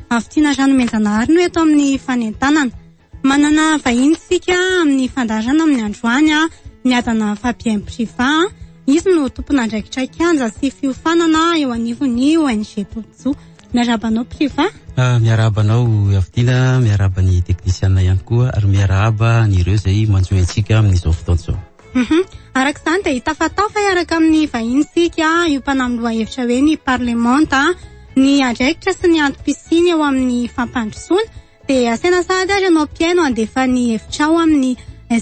Avy tiana rano omen-janahary no eto amin'ny fanentanana. Manana vahiny isika amin'ny fandaharana amin'ny androany a, ny adana Fabien Priva. Izy no tompon'andraikitra kianja sy fiofanana eo anivon'ny ONG Tojo. Miarahaba anao Priva. Ah, miarahaba anao avy tiana, miarahaba ny teknisiana ihany koa ary miarahaba an'ireo izay manjohy antsika amin'izao fotoana izao. Humm araka izany dia hitafatafa hiaraka amin'ny vahiny isika io mpanahy amin'ny lohahevitra hoe ny parlemanta ny andraikitra sy ny antom-pisiany eo amin'ny fampandrosoana dia asaina sahady ary ianao mpihaino handefa ny hevitrao amin'ny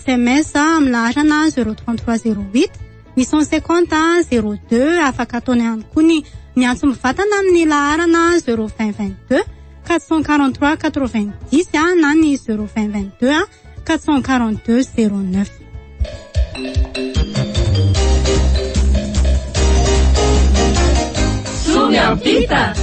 sms amin'ny laharana zero trente trois zero huit huit cent cinquante zero deux afaka ataonao ihany koa ny miantso mivatana amin'ny laharana zero vingt vingt deux quatre cent quarante trois quatre vingt dix na ny zero vingt vingt deux 442 09 Somiampita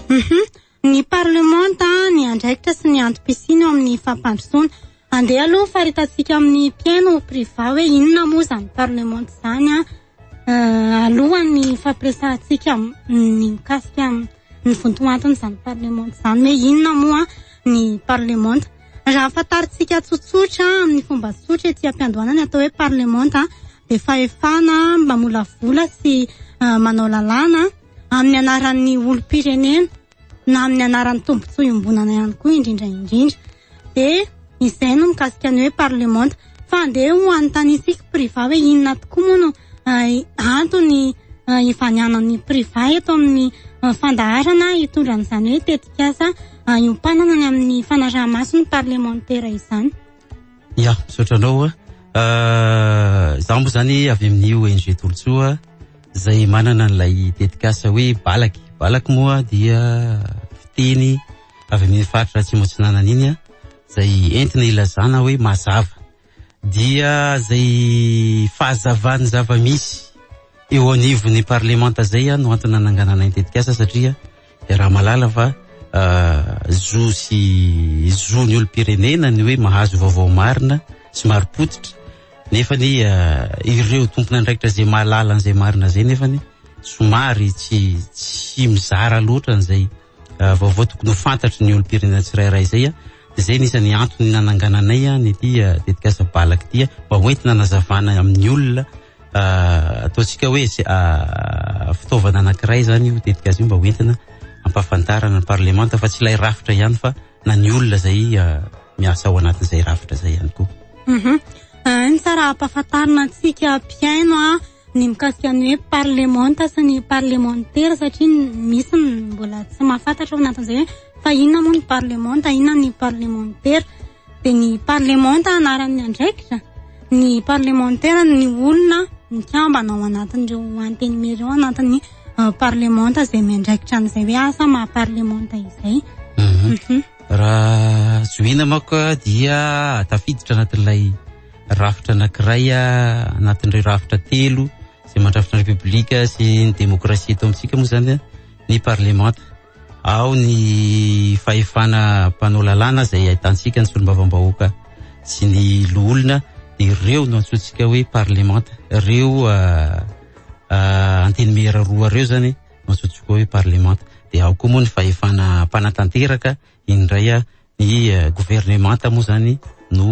Mhm. Ny parlemanta, ny andraikitra sy ny antom-pisiana ao amin'ny fampandrosoana. Andeha aloha faritantsika amin'ny mpihaino priva hoe inona moa izany parlemanta izany an. Alohan'ny fampiresahantsika ny mikasika ny vontoantony izany parlemanta izany hoe inona moa ny parlemanta. Raha fantarintsika tsotsotra amin'ny fomba tsotra ety am-piandohana ny atao hoe parlemanta dia fahefana mamolavola sy manao lalàna amin'ny anaran'ny olom-pirenena. na amin'ny anaran'ny tombontsoa iombonana ihany koa indrindra indrindra dia izay no mikasika ny hoe parlemanta fa andeha ho anontanisika priva hoe inona tokoa moa no eh, antony eh, ivanianan'ny priva eto amin'ny eh, fandaharana hitondra an'izany hoe tetikasa iopanana ny amin'ny fanarahamaso ny parlemantera izany Ya, misaotra anao. Euh, za moa zany avy amin'ny ONG Tolotsoa izay manana an'ilay tetikasa hoe balaky. Balaky moa dia fiteny avy amin'ny faritra Atsimo Atsinanana iny a, izay entina ilazana hoe mazava. Dia izay fahazavan'ny zava-misy eo anivon'ny parlemanta izay no antony nananganana ny tetikasa satria Raha malala fa zo sy zon'ny olom-pirenena ny hoe mahazo vaovao marina sy marim-pototra nefa ny ireo tompon'andraikitra izay mahalala an'izay marina izay nefa ny somary tsy tsy mizara loatra an'izay vaovao tokony ho fantatry ny olom-pirenena tsirairay izay a izay ny isan'ny antony nanangananay a ny ity tetikasa balaka ity a mba hoentina nazavana amin'ny olona Ataontsika hoe fitaovana anankiray zany io tetikasa io mba ho entina ampahafantarana ny parlemanta fa tsy ilay rafitra ihany fa na ny olona zay miasa ao anatin'izay rafitra zay ihany koa. Mhm. Ah, ny tsara ampahafantarina antsika mpihaino a ah, ny mikasika ny hoe parlemanta sy ny parlemantera satria misy ny mbola tsy mahafantatra ao anatin'izay hoe fa inona moa ny parlemanta inona ny parlemantera dia ny parlemanta anaran'ny andraikitra ny parlemantera ny olona mikambana ao anatin'ireo antenimiery ao anatin'ny euh, parlemanta izay miandraikitra an'izay hoe asa maha parlemanta izay mhm. Mhm. raha zohina mako dia tafiditra anatin'ilay rafitra anakiray anatin'ireo rafitra telo izay mandrafitra ny repoblika sy ny demokrasia eto amintsika moa zany ny parlemanta ao ny fahefana mpanao lalàna izay ahitantsika ny solombavambahoaka sy ny loholona dia ireo no antsointsika hoe parlemanta ireo ah, ah, antenimiera roa ireo zany no antsointsika hoe parlemanta dia ao koa moa ny fahefana mpanatanteraka Indray a, ny governemanta moa zany no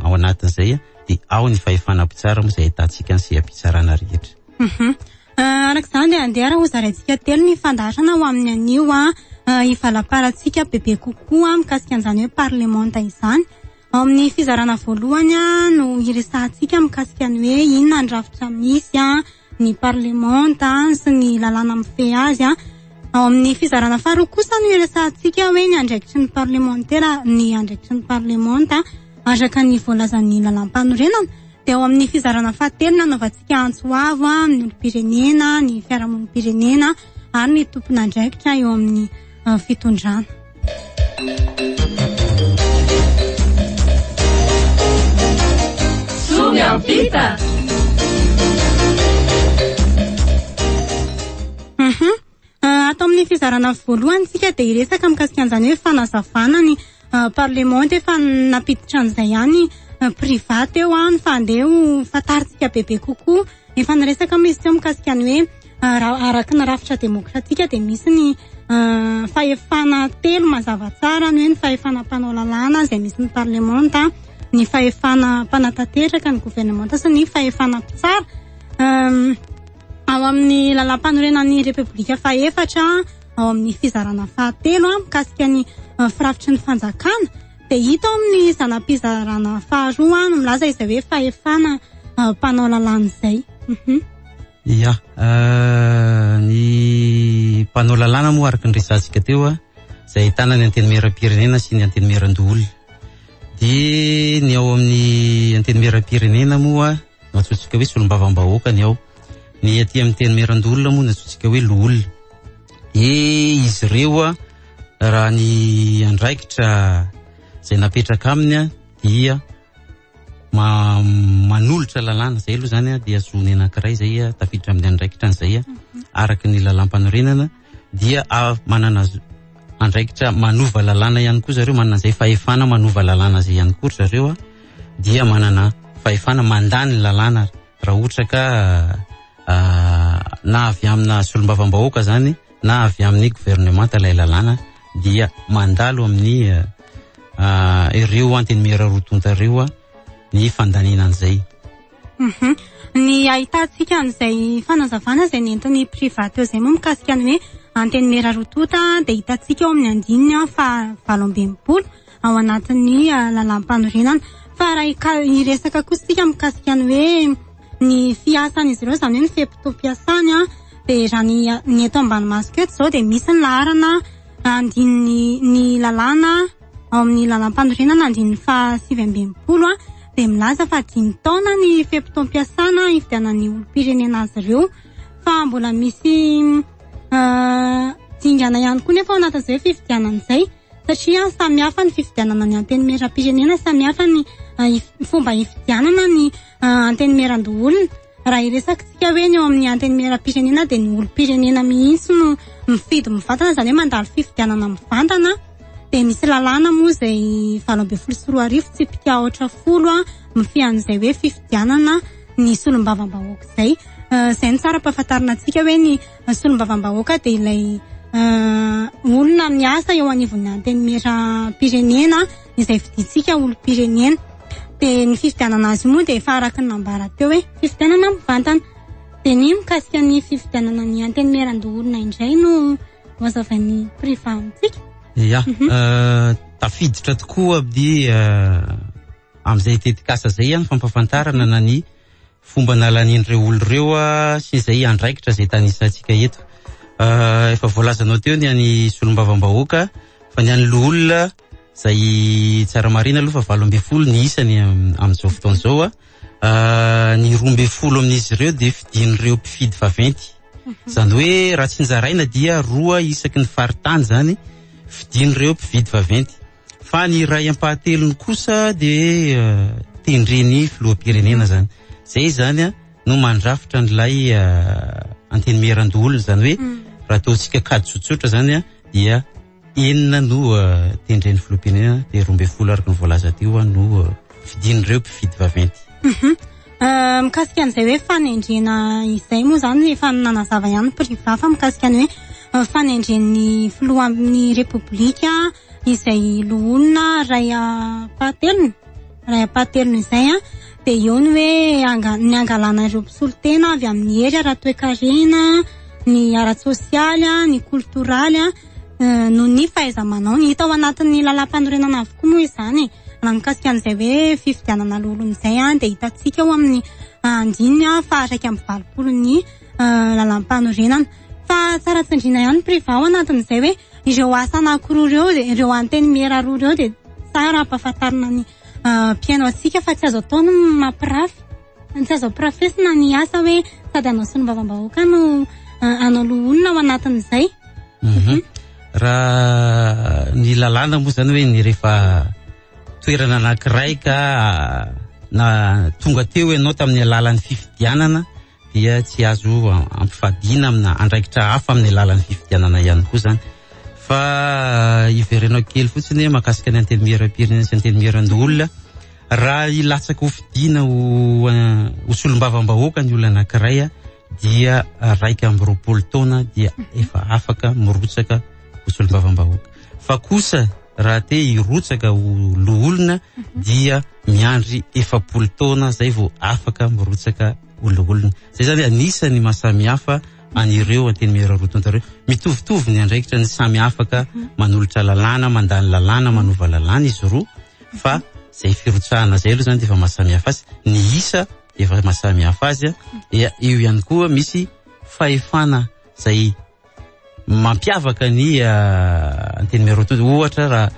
ao anatin'izay de ao ny fahefana mpitsara moa izay ahitantsika ny seha-pitsarana rehetra. Mhm. Ah, araka izany andeha raha hozaraintsika telo ny fandaharana ho amin'ny anio a ah, ah, hivalaparantsika bebe kokoa mikasika an'izany hoe parlemanta izany. Ao amin'ny fizarana voalohany a no hiresahantsika mikasika ny hoe inona ny rafitra misy a, ny parlemanta sy ny lalàna mifehy azy an. Ao amin'ny fizarana faharoa kosa no iresahantsika hoe ny andraikitry ny parlemantera ny andraikitry ny parlemanta araka ny voalazan'ny lalàmpanorenana. Dia ao amin'ny fizarana fahatelo nanaovantsika antso avo amin'ny olom-pirenena, ny fiarahamonim-pirenena ary ny tompon'andraikitra eo amin'ny uh, fitondrana. Ato amin'ny fizarana voalohany tsika dia hiresaka mikasika an'izany hoe fanazavana ny ah, parlement dia efa nampiditra an'izay ihany ah, private eo an fa andeha ho fantarintsika bebe kokoa Efa niresaka moa izy teo mikasika ny hoe raha araka ny rafitra demokratika dia misy ny fahefana telo mazava tsara ny hoe ny fahefana mpanao lalàna izay misy ny parlemanta, ny fahefana mpanatanteraka ny governemanta sy ny fahefana mpitsara. Ao amin'ny lalàmpanorenan'ny repoblika fahefatra ao amin'ny fizarana fahatelo mikasika ny firafitry ny fanjakana. Dia hita ao amin'ny zana-pizarana faharoa no milaza izay hoe fahefana mpanao lalàna izay. Mhm. Ia, euh, ny mpanao lalàna moa araka ny resahantsika teo a, izay ahitana ny antenimieram-pirenena sy ny antenimieran-doholona. Dia ny ao amin'ny antenimieram-pirenena moa no antsointsika hoe solombavambahoaka ny ao. Ny aty amin'ny antenimieran-doholona moa no antsointsika hoe loholona. Dia izy ireo a. Raha ny andraikitra izay napetraka aminy dia ma manolotra lalàna izay aloha zany dia zony anankiray izay tafiditra amin'ny andraikitra an'izay mhm. araka ny lalàmpanorenana dia manana andraikitra manova lalàna ihany koa zareo manana izay fahefana manova lalàna izay ihany koa zareo a dia manana fahefana mandà ny lalàna raha ohatra ka ah, na avy amina solombavambahoaka zany na avy amin'ny governemanta ilay lalàna dia mandalo amin'ny ireo antenimiera roa tonta ireo ny fandaniana an'izay. Mhm. Ny ahitantsika an'izay fanazavana izay nentin'ny Priva teo izay moa mikasika ny hoe antenimiera roa tonta dia hitantsika ao amin'ny andininy faha valo amby enimpolo. ao anatin'ny ah, lalàmpanorenana fa raha hika- hiresaka kosa isika mikasika ny hoe ny fiasan'izy ireo izany hoe ny fe-potoam-piasany a de raha ny a- ny eto ambanimasoko eto izao dia misy ny laharana andininy ny lalàna ao amin'ny lalàmpanorenana andininy faha sivy amby enimpolo a dia milaza fa dimy taona ny fe-potoam-piasana hividianan'ny olom-pirenena azy ireo fa mbola misy ah, dingana ihany koa nefa ao anatin'izay fifidianana izay satria samy hafa ny fifidianana ny antenimieram-pirenena, samy hafa ny fomba hifidianana ny antenimieran-doholona. Raha hiresakantsika hoe ny eo amin'ny antenimieram-pirenena dia ny olom-pirenena mihitsy no mifidy mivantana, izany hoe mandalo fifidianana mivantana. Dia misy lalàna moa izay valo ambin'ny folo sy roa arivo tsipika aotra folo mifehy an'izay hoe fifidianana ny solombavambahoaka izay. Izay no tsara ampahafantarina antsika hoe ny... solombavambahoaka dia ilay olona miasa eo anivon'ny antenimieram-pirenena izay fidintsika olom-pirenena. Dia ny fifidianana azy moa dia efa araka ny nambara teo hoe fifidianana mivantana. Dia ny mikasika ny fifidianana ny antenimieran-doholona indray no hoazavain'ny priva amintsika. Ia, mhm. eh, tafiditra tokoa amin'ny eh, amin'izay tetikasa izay ihany fampafantarana na ny fomba nalan'ireo olona ireo sy izay andraikitra izay tanisantsika eto. Ah, efa voalazanao teo ny any solombavambahoaka fa ny any loholona izay tsara marina aloha fa valo ambin'ny folo ny isany amin'izao fotoana izao ah. ah, ny roa ambin'ny folo amin'izy ireo dia fidin'ireo mpifidy vaventy mhm. izany hoe raha tsinjaraina dia roa isaky ny faritany izany fidin'ireo mpifidy vaventy Fa ny iray ampahatelony kosa dia tendren'ny filoham-pirenena zany. Zay zany a no mandrafitra an'ilay antenimieran-doholona zany hoe mm. raha ataontsika kady tsotsotra zany a dia enina no tendren'ny filoham-pirenena dia roa ambin'ny folo araka ny voalaza teo a no fidin'ireo mpifidy vaventy. Mhm. Euh, mikasika an'izay hoe fanendrena izay moa zany efa nanazava ihany privy fa mikasika ny hoe euh, fanendren'ny filohan'ny repoblika izay loholona ray ampahatelony ray ampahatelony izay an dia eo ny hoe anga- ny angalana ireo mpisolo tena avy amin'ny hery ara-toekarena ny ara-tsosialy an, ny koltoraly an eh, noho ny fahaiza-manaony hita ao anatin'ny lalàmpanorenana avokoa moa izany e. raha mikasika an'izay hoe fifidianana loholona izay an dia hitantsika ao amin'ny andininy ah, faha iraika amby valopolo ny lalàmpanorenana fa tsara tsindriana ihany ny privao anatin'izay hoe ireo asa anankiroa ireo dia ireo antenimiera roa ireo dia tsara ampahafantarina ny mpihaino antsika fa tsy azo atao ny mampirafy ny tsy azo ampirafesina ny asa hoe sady hanao solombavambahoaka no hanao loholona ao anatin'izay mhm. raha ny lalàna moa zany hoe ny rehefa toerana anankiray ka na tonga teo ianao tamin'ny alalan'ny fifidianana dia tsy azo ampifadiana amina andraikitra hafa amin'ny alalan'ny fifidianana ihany koa zany fa eh, iverenao kely fotsiny hoe makasika ny antenimieram-pirenena sy antenimieran-doholona raha hilatsaka ho fidiana ho eh, ho solombavambahoaka ny olona anankiray eh, dia raika amby roapolo taona dia efa afaka mirotsaka ho solombavambahoaka fa kosa raha te hirotsaka ho loholona dia miandry efapolo taona zay vao afaka mirotsaka ho loholona zay zany anisany masamihafa an'ireo anteny mihira roa tonta ireo mitovitovy ny andraikitra ny samy afaka manolotra lalàna mandany lalàna manova lalàna izy roa fa zay firotsahana zay aloha zany dia efa masamihafa azy ny isa dia efa masamihafa azy dia eo ihany koa misy fahefana zay mampiavaka ny ah, antenimieroto ohatra raha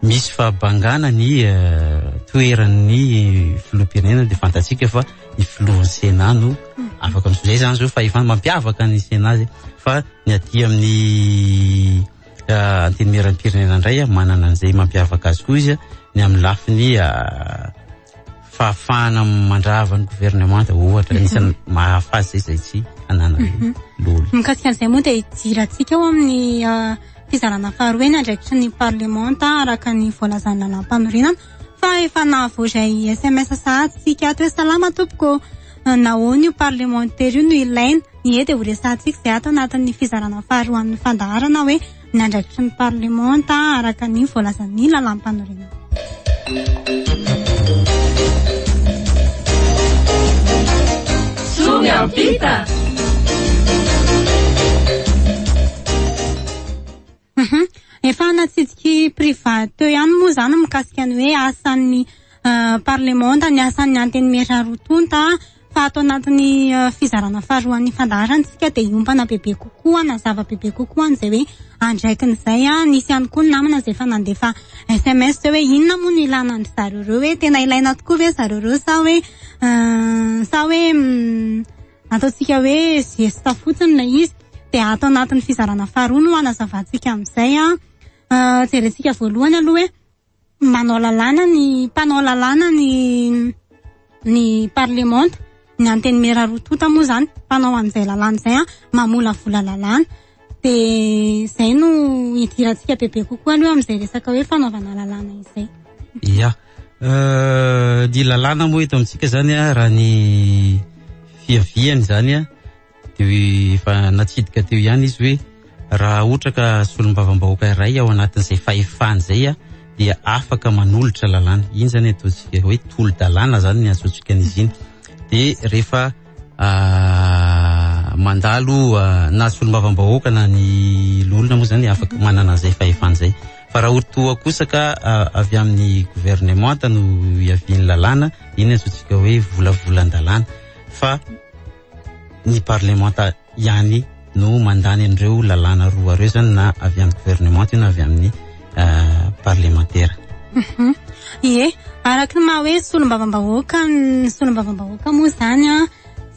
misy fahabangana ny ah, toeran'ny filoham-pirenena dia fantatsika fa ny filohan'ny sena no afaka misy zay zany zao fahefana mampiavaka ny sena zay fa ny aty amin'ny ah, antenimieram-pirenena indray ah, manana an'izay mampiavaka azy koa izy ah, ny amin'ny lafiny ah, fahafahana mandrava ny governemanta ohatra anisan'ny mhm. mahafaza izay tsy anana mhm. loly mikasika an'izay moa dia hidirantsika ao amin'ny ah, fizarana faharoe ny andraikitry ny parlemanta araka ny voalazan'ny lalàmpanorenana fa efa nahavoazay sms sahatsika ato hoe salama tompoko ah, nahoana io parlemantera io no ilaina ny e dia ho resantsika izay ato anatin'ny fizarana faharoa amin'ny fandaharana hoe ny andraikitry ny parlemanta araka ny voalazan'ny lalàmpanorenana. Somy ampita! Mhm. Efa natsidiky priva teo ihany moa izany mikasika ny hoe asan'ny eh, parlemanta, ny asan'ny antenimiera roa tonta, fa ato anatin'ny eh, fizarana faharoan'ny fandaharana isika dia hiompana bebe kokoa na zava bebe kokoa an'izay hoe andraikiny izay a nisy ihany koa ny namana izay efa nandefa sms zay hoe inona moa no ilana an-dry zareo ireo hoe tena ilaina tokoa ve zareo ireo sa hoe eh, sa hoe mm, ataontsika hoe zesta fotsiny ilay izy dia ato anatin'ny fizarana faharoa no hanazavantsika amin'izay a Eh, jerentsika voalohany aloha hoe manao lalàna ny mpanao lalàna ny ny parlemanta ny antenimera roa tonta moa zany mpanao an'izay lalàna izay an mamolavola lalàna de zay no hidirantsika bebe kokoa aloha amin'izay resaka hoe fanaovana lalàna izay ya euh, ny lalàna moa eto amintsika zany an raha ny fiaviany zany an dia hoe efa natsidika teo ihany izy hoe raha ohatra ka solombavambahoaka iray ao anatin'izay fahefany izay a dia afaka manolotra lalàna iny zany ataontsika hoe tolo-dalàna zany ny antsointsika an'izy iny de rehefa ah, mandalo ah, na solombavambahoaka na ny loholona moa zany afaka manana an'izay fahefany izay fa raha otoa kosa ka ah, avy amin'ny gouvernementa no iavian'ny lalàna iny antsointsika hoe volavolan-dalàna fa ny parlemanta ihany no mandany an'ireo lalàna roa ireo zany na avy amin'ny gouvernemanta io na avy amin'ny euh, parlemantera mhm. ie araka ny maha hoe solombavambahoaka ny solombavambahoaka moa zany a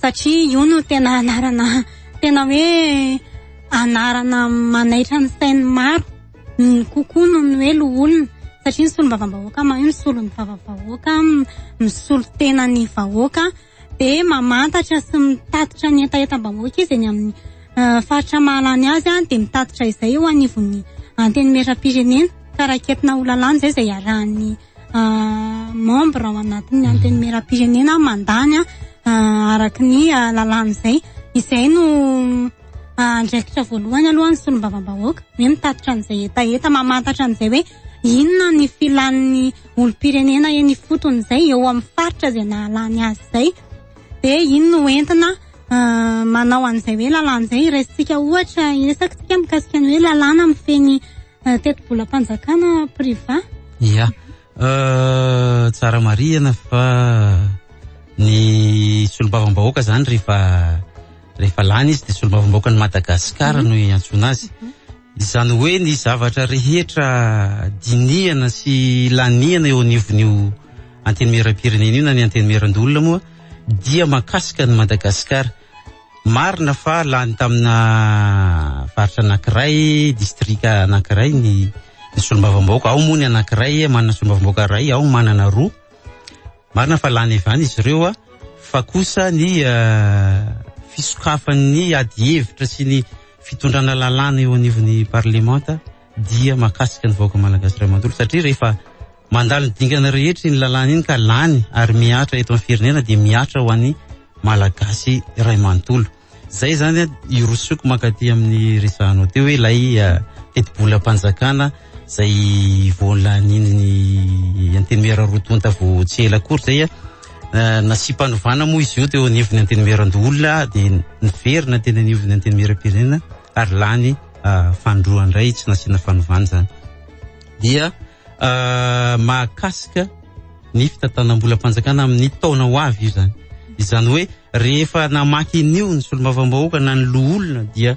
satria io no tena anarana tena hoe anarana manaitra ny sain'ny maro ny kokoa no ny hoe loholona satria ny solombavambahoaka ma io ny solon'ny vavavahoaka misolo tena ny vahoaka be mamantatra sy mitatitra ny hetahetam-bahoaka izy eny amin'ny eh, faritra mahalany azy any dia mitatitra izay eo anivon'ny antenimieram-pirenena ka raketina ho lalàna izay izay iarahan'ny eh, membre ao anatin'ny mhm. antenimieram-pirenena mandany eh, araka ny lalàna izay izay no andraikitra voalohany aloha ny solombavambahoaka hoe mitatitra an'izay hetaheta mamantatra an'izay hoe Inona ny filan'ny olom-pirenena eny ifotony izay eo amin'ny faritra izay nahalany azy izay? Dia iny no entina ah, manao an'izay hoe lalàna izay. Iraisintsika ohatra, iresakintsika mikasika ny hoe lalàna mifehy ny ah, tetibolam-panjakana priva. Ia, eh, tsara marihana fa ny solombavambahoaka izany rehefa rehefa lany izy dia solombavambahoakan'i Madagasikara no iantsoana azy. Izany hoe ny zavatra rehetra dinihana sy lanihana eo anivon'io antenimieram-pirenena io na ny antenimieran-doholona moa dia makasika ny Madagasikara. Marina fa lany tamina faritra anankiray, distrika anankiray ny ny solombavambahoaka, ao moa ny anankiray manana solombavambahoaka iray, ao manana roa. Marina fa lany evana izy ireo a, fa kosa ny fisokafan'ny ady hevitra sy ny fitondrana lalàna eo anivon'ny parlemanta dia makasika ny vahoaka malagasy iray manontolo satria rehefa mandalo ny dingana rehetra iny lalàna iny ka lany ary mihatra eto amin'ny firenena dia mihatra ho an'ny malagasy iray manontolo. Zay zany a irosoiko mankaty amin'ny resahanao teo hoe ilay tetibolam-panjakana zay vao lanian'ny antenimiera roa tonta vao tsy ela akory zay a eh, nasiam-panovana moa izy io teo anivon'ny antenimieran-doholona dia niverina teny anivon'ny antenimieram-pirenena ary lany ah, fanindroany indray tsy nasiana fanovana zany dia ah, mahakasika ny fitantanam-bolam-panjakana amin'ny taona ho avy io zany izany hoe Rehefa namaky an'io ny solombavambahoaka na ny loholona dia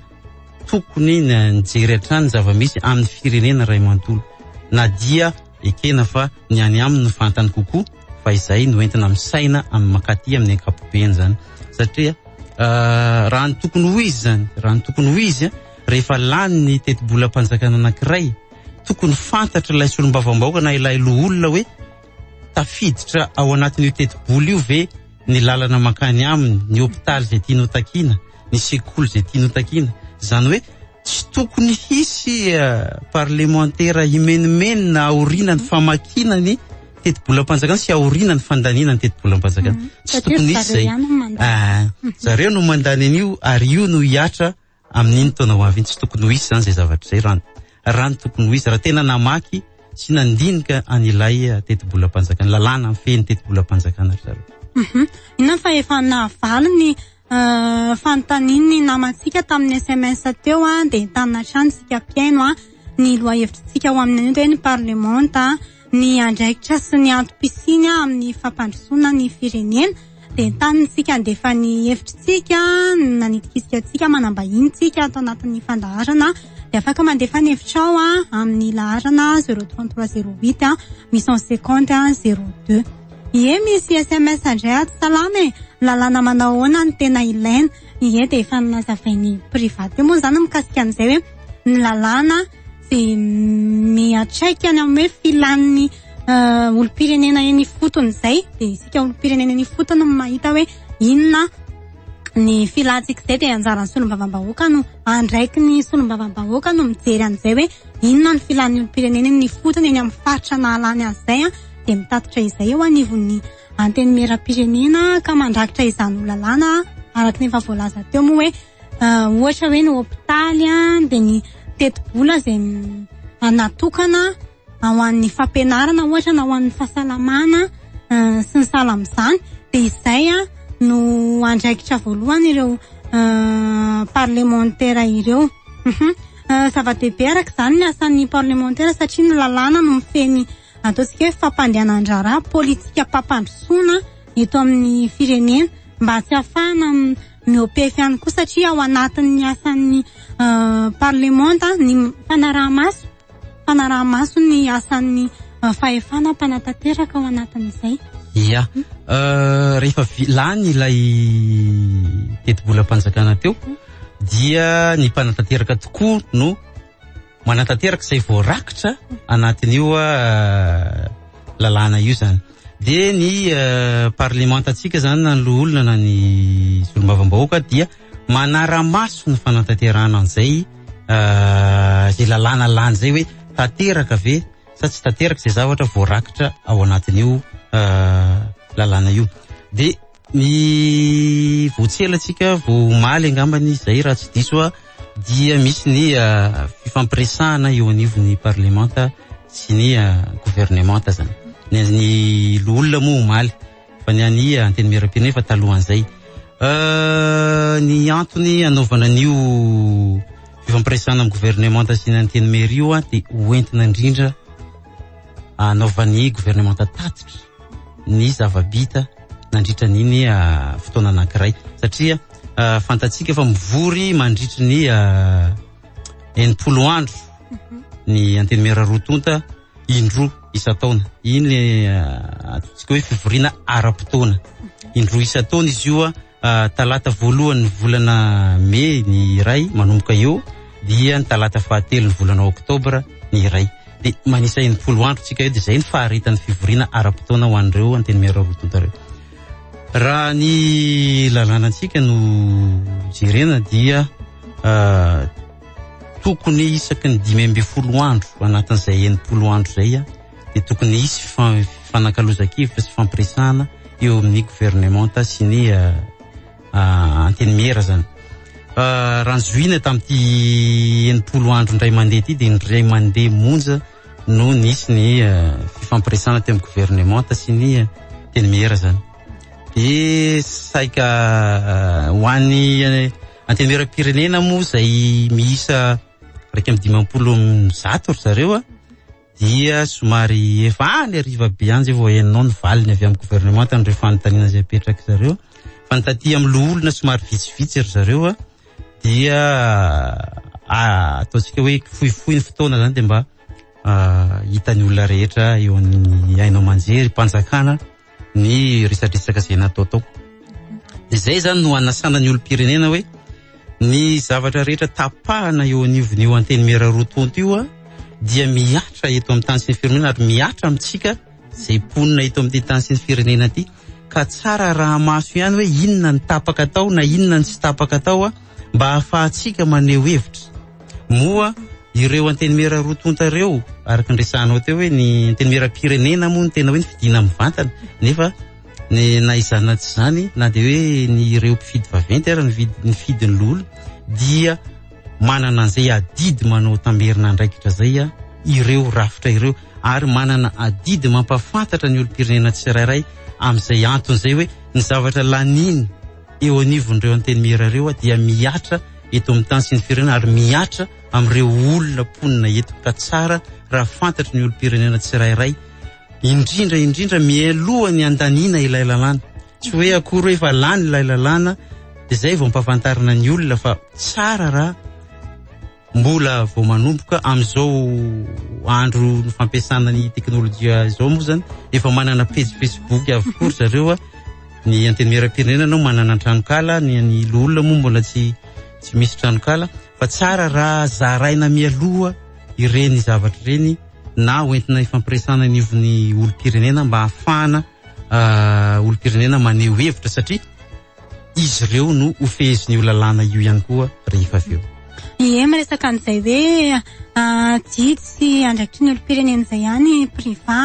tokony nijery hatrany ny zava-misy amin'ny firenena iray manontolo na dia ekena fa ny any aminy no fantany kokoa fa izay no entina misaina amin'ny makaty amin'ny ankapobeny zany satria uh, raha ny tokony ho izy zany raha ny tokony ho izy rehefa lany ny tetibolam-panjakana anankiray tokony fantatra ilay solombavambahoaka na ilay loholona hoe Tafiditra ao anatin'io tetibola io ve ny lalana mankany aminy, ny hopitaly izay tiany ho takiana, ny sekoly izay tiany ho takiana? Izany hoe tsy tokony hisy parlemantera himenomenona aoriana ny famakiana ny tetibolam-panjakana sy aoriana ny fandaniana ny tetibolam-panjakana. Tsy tokony hisy izay. Zareo no mandany an'io ary io no hiatra Amin'iny taona ho avy iny tsy tokony ho hisy izany izay zavatra izay raha ny raha ny tokony ho izy raha tena namaky sy nandinika an'ilay tetibolam-panjakana, lalàna mifehy ny tetibolam-panjakana ry zareo. Mhm. Inona fa efa nahavaly ny eh, fanontanian'ny namantsika tamin'ny sms teo an, dia entanina hatrany isika mpihaino an. ny lohahevitritsika ao amin'ny hoe ny parlemanta ny andraikitra sy ny antom-pisiany amin'ny fampandrosoana ny firenena dia tany isika handefa ny hevitritsika nanitikisika antsika manambahiny tsika ato anatin'ny fandaharana dia afaka mandefa ny hevitrao a amin'ny laharana zero trente trois zero huit a huit cent cinquante a zero deux ie misy sms indray ato salama e lalàna manao ahoana ny tena ilaina Ie dia efa nazavain'i Private teo moa izany mikasika an'izay hoe ny lalàna sy miatraika ny amin'ny hoe filan'ny uh, olom-pirenena eny ifotony izay dia isika olom-pirenena eny ifotony no mahita hoe inona ny filantsika izay dia anjaran'ny solombavambahoaka no andraiky ny solombavambahoaka no mijery an'izay hoe inona ny filan'ny olom-pirenena eny ifotony eny amin'ny faritra nahalany azy izay an dia mitatitra izay eo anivon'ny Antenimierampirenena ka mandrakitra izany ho lalàna araka ny efa voalaza teo moa hoe ohatra hoe ny hopitaly an dia ny tetibola izay natokana ho an'ny fampianarana ohatra na ho an'ny fahasalamana sy ny sahala amin'izany dia izay an no andraikitra voalohany ireo parlemantera ireo zava-dehibe araka izany ny asan'ny parlemantera satria ny lalàna no mifehy ny Ataontsika hoe fampandehanan-draharaha, politikam-pampandrosoana eto amin'ny firenena mba tsy hafahana miopefy ihany koa satria ao anatin'ny asan'ny euh, parlemanta ny fanaraha-maso, fanaraha-maso ny asan'ny euh, fahefana mpanatanteraka ao anatin'izay. Ia, euh, rehefa lany ilay tetibolam-panjakana teo dia ny mpanatanteraka tokoa no manatanteraka izay voarakitra anatin'io euh, lalàna io zany de ny euh, parlementantsika zany na ny loholona na ny solombavambahoaka dia manaramaso ny fanatanterahana an'izay euh, zay lalàna lany zay hoe tanteraka ve sa tsy tanteraka izay zavatra voarakitra ao anatin'io lalàna io de Ny Voatselantsika vao omaly angambany izay raha tsy diso aho dia misy ny ah, fifampiresahana eo anivon'ny parlemanta sy ny ah, governemanta zany. Ny an'ny loholona moa omaly fa ny an'ny ah, antenimieram-pirenena efa talohan'izay. Euh, ny antony anaovana an'io fifampiresahana amin'ny governemanta sy ny antenimiery io ah, dia ho entina indrindra anaovan'ny governemanta tatitra. ny zava-bita nandritra an'iny ah, fotoana anankiray satria ah, fantatsika fa mivory mandritry ny ah, enimpolo andro mhm. ny antenimera roa tonta indroa isan-taona iny le atsika hoe fivoriana ara-potoana mhm. indroa isan-taona izy io a Talata voalohan'ny volana Mey ny iray manomboka eo dia ny talata fahatelo ny volana Oktobra ny iray. Dia manisa enimpolo andro tsika eo dia izay ny faharetan'ny fivoriana ara-potoana ho an'ireo antenimiera roa tonta ireo. Raha ny lalàna antsika no jerena dia uh, tokony isaky ny dimy ambin'ny folo andro anatin'izay enimpolo andro izay dia tokony hisy fifanakalozan-kevitra sy fampiresahana eo amin'ny governemanta sy ny ah, ah, antenimiera zany ah, raha nizohina tamin'ity enimpolo andro indray mandeha ity dia indray mandeha monja no nisy ny fifampiresahana teo amin'ny governemanta sy ny antenimiera zany de saika ho an'ny antenimieram-pirenena moa izay miisa raika amby dimampolo zato ry zareo a dia somary efa any hariva be any izay vao henonao ny valiny avy amin'ny governemanta an'ireo fanontaniana izay apetrak'i zareo fa ny taty amin'ny loholona somary vitsivitsy ry zareo a dia ah, ataontsika hoe fohifohy ny fotoana izany dia mba ah, hitan'ny olona rehetra eo amin'ny haino aman-jery, mpanjakana ny resadresaka izay nataotao. Izay izany no anasana ny olom-pirenena hoe ny zavatra rehetra tapahana eo anivon'ny io antenimiera roa tonta io dia mihatra eto amin'ny tany sy ny firenena ary mihatra amintsika izay mponina eto amin'ny tany sy ny firenena ity ka tsara raha maso ihany hoe inona ny tapaka atao na inona ny tsy tapaka atao mba hahafahantsika maneho hevitra. Moa ireo antenimiera roa tonta ireo, araka ny resahanao teo hoe ny antenimieram-pirenena moa no tena hoe nifidina mivantana, nefa ny na izany na tsy izany na dia hoe ny ireo mpifidy vaventy ary nividy nifidy ny loholona dia manana an'izay adidy manao tamerina andraikitra izay a ireo rafitra ireo ary manana adidy mampafantatra ny olom-pirenena tsirairay amin'izay antony izay hoe ny zavatra laniny eo anivon'ireo antenimiera ireo dia mihatra eto amin'ny tany sy ny firenena ary mihatra amin'ireo olona mponina eto ka tsara raha fantatry ny olom-pirenena tsirairay indrindra indrindra mialoha ny andaniana ilay lalàna tsy hoe akory hoe efa lany ilay lalàna dia izay vao ampahafantarina ny olona fa tsara raha Mbola vao manomboka amin'izao andro fampiasana ny teknolojia izao moa zany efa manana pejy Facebook avokoa ry zareo a. Ny antenimieram-pirenena no manana tranonkala, ny an'ny loholona moa mbola tsy tsy misy tranonkala fa tsara raha zaraina mialoha ireny zavatra ireny na hoentina ifampiresana anivon'ny olom-pirenena mba hahafahana ah, olom-pirenena maneho hevitra satria izy ireo no ho fehezin'ny io lalàna io ihany koa rehefa avy eo. Ie miresaka an'izay hoe ah, jidy sy andraikitry ny olom-pirenena izay ihany priva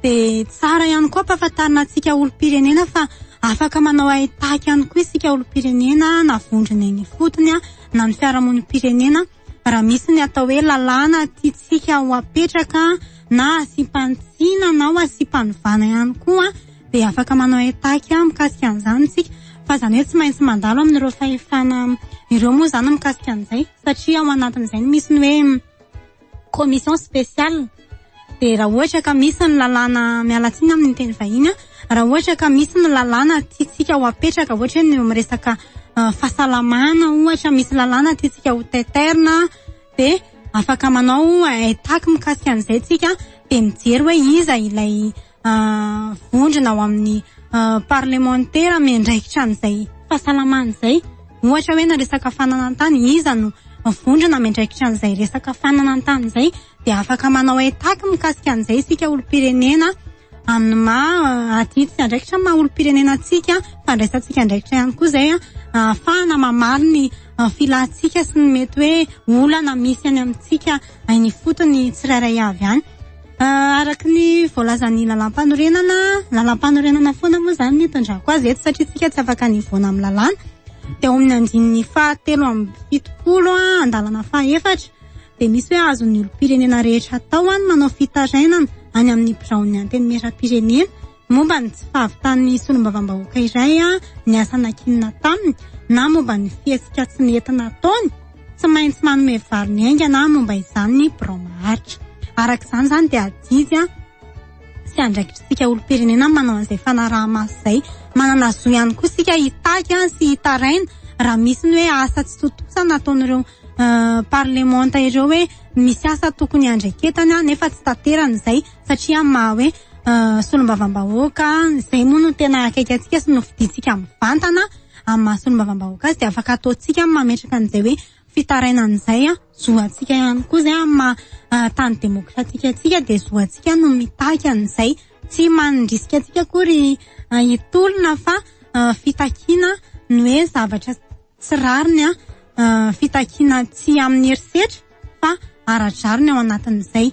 dia tsara ihany koa ampahafantarina antsika olom-pirenena fa afaka manao haitaky ihany koa isika olom-pirenena na vondrona eny ifotony na ny fiarahamonim-pirenena fa raha misy ny atao hoe lalàna tiantsika ho apetraka na asiam-panitsiana na ho asiam-panovana ihany koa dia afaka manao attaque mikasika an'izany isika fa izany hoe tsy maintsy mandalo amin'ireo fahefana ireo moa izany mikasika an'izay satria ao anatin'izay no misy ny hoe commission spéciale dia raha ohatra ka misy ny lalàna miala tsiny amin'ny teny vahiny an, raha ohatra ka misy ny lalàna tiantsika ho apetraka ohatra hoe ny eo amin'ny resaka ah, fahasalamana ohatra misy lalàna tiantsika ho teterina dia afaka manao un haitac mikasika an'izay tsika dia mijery hoe iza ilay vondrona ao amin'ny parlemantera miandraikitra an'izay fahasalamana izay ohatra hoe na resaka fananantany iza no vondrona miandraikitra an'izay resaka fananantany izay dia afaka manao etaky mikasika an'izay isika olom-pirenena amin'ny maha adity sy andraikitra maha olom-pirenena antsika fandraisantsika andraikitra ihany koa izay ahafahana mamaly ny filantsika sy ny mety hoe olana misy any amintsika any ifotony tsirairay avy any Ah, araka ny voalazan'ny lalàmpanorenana, lalàmpanorenana foana moa izany ny itondrako azy eto satria isika tsy afaka ny hivoana amin'ny lalàna, dia ao amin'ny andininy fahatelo amby fitopolo an, andalana fahefatra dia misy hoe azon'ny olom-pirenena rehetra atao an ny manao fitarainana any amin'ny biraon'ny antenimierampirenena momba ny tsy fahavitan'ny solombavambahoaka iray ny asa nankinina taminy na momba ny fihetsika tsy nety nataony, tsy maintsy manome vary ny haingana momba izany ny birao maharitra. Araka izany izany dia adidy sy andraikitry isika olom-pirenena ny manao an'izay fanaraha-maso izay. Manana zo ihany koa isika hitaky sy hitaraina raha misy ny hoe asa tsy tontosa nataon'ireo parlemanta ireo hoe misy asa tokony handraiketany nefa tsy tanterany izay. satria amin'ny maha hoe solombavambahoaka izay moa no tena akaiky antsika sy nofidintsika mivantana amin'ny maha solombavambahoaka azy dia afaka ataontsika mametraka an'izay hoe fitarainana izay an zo antsika ihany koa izay amin'ny maha tany demokratika antsika dia zo antsika no mitaky an'izay tsy mandrisika antsika akory hitolona fa fitakiana ny hoe zavatra tsy rariny an, fitakiana tsy amin'ny herisetra fa ara-drariny ao anatin'izay.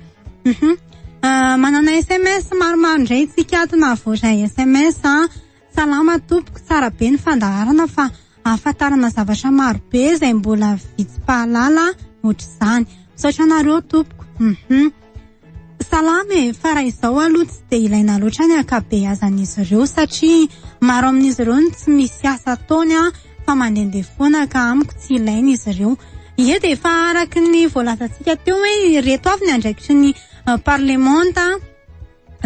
Uhum. Ah, manana sms maromaro indray tsika ato na voaray sms an. Salama tompoko, tsara be ny fandaharana fa ahafantarana zavatra maro be izay mbola vitsy mpahalala ohatr'izany. Misaotra anareo tompoko. Uhum. Salama e, fa raha izao aloha tsy dia ilaina loatra ny ankabeazan'izy ireo satria maro amin'izy ireo no tsy misy asa ataony an, fa mandehandeha foana ka amiko tsy ilaina izy ireo. Ie dia efa araka ny voalazantsika teo hoe ireto avy ny andraikitry ny eh, parlemanta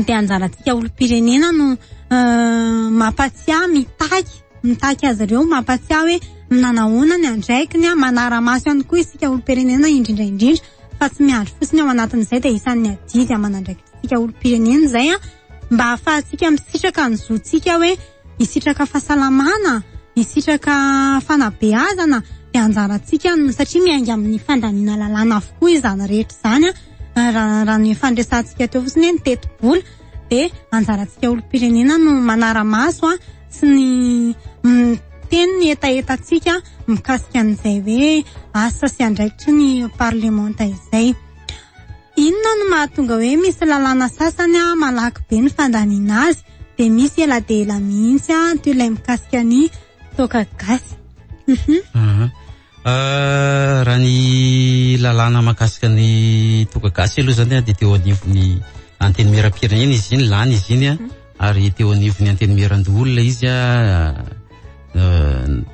dia anjarantsika olom-pirenena no eh, mampatsiahy, mitaky, mitaky azy ireo, mampatsiahy hoe nanahona ny andraikiny, manara-maso ihany koa isika olom-pirenena indrindra indrindra. fa tsy miandry fotsiny ao anatin'izay dia isan'ny adidy aman'andraikitsika olom-pirenena izay a mba hahafahantsika misitraka ny zontsika hoe hisitraka fahasalamana hisitraka fanabeazana dia anjarantsika no satria miainga amin'ny fandaniana lalàna avokoa izany rehetra izany a raha raha ny fandresantsika teo fotsiny hoe ny tetibola dia anjarantsika olom-pirenena no manara-maso a tsy ny miteny ny hetahetantsika mikasika an'izay hoe asa sy andraikitry ny parlemanta izay. Inona no mahatonga hoe misy lalàna sasany a malaky be ny fandaniana azy dia misy ela dia ela mihitsy a toy ilay mikasika ny toaka gasy. Mhm. Mhm. Raha ny lalàna mahakasika ny toaka gasy aloha zany dia teo anivon'ny antenimieram-pirenena izy iny, lany izy iny mhm. ary teo anivon'ny antenimieran-doholona izy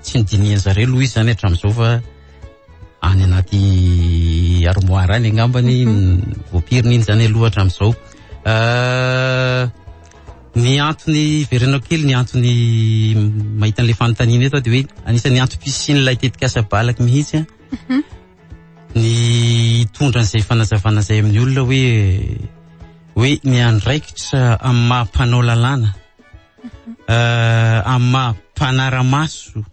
tsy nodinihan zareo aloha izy zany hatramin'izao fa any anaty armoire any angambany mhm. voapiriny iny zany aloha hatramin'izao Ny antony hiverenako kely ny antony mahita an'ilay fanontaniana eto dia hoe anisan'ny antom-pisian'ilay tetikasa balaky mihitsy mhm. ny hitondra an'izay fanazavana izay amin'ny olona hoe hoe ny andraikitra amin'ny maha mpanao lalàna mhm. euh, amin'ny maha mpanara-maso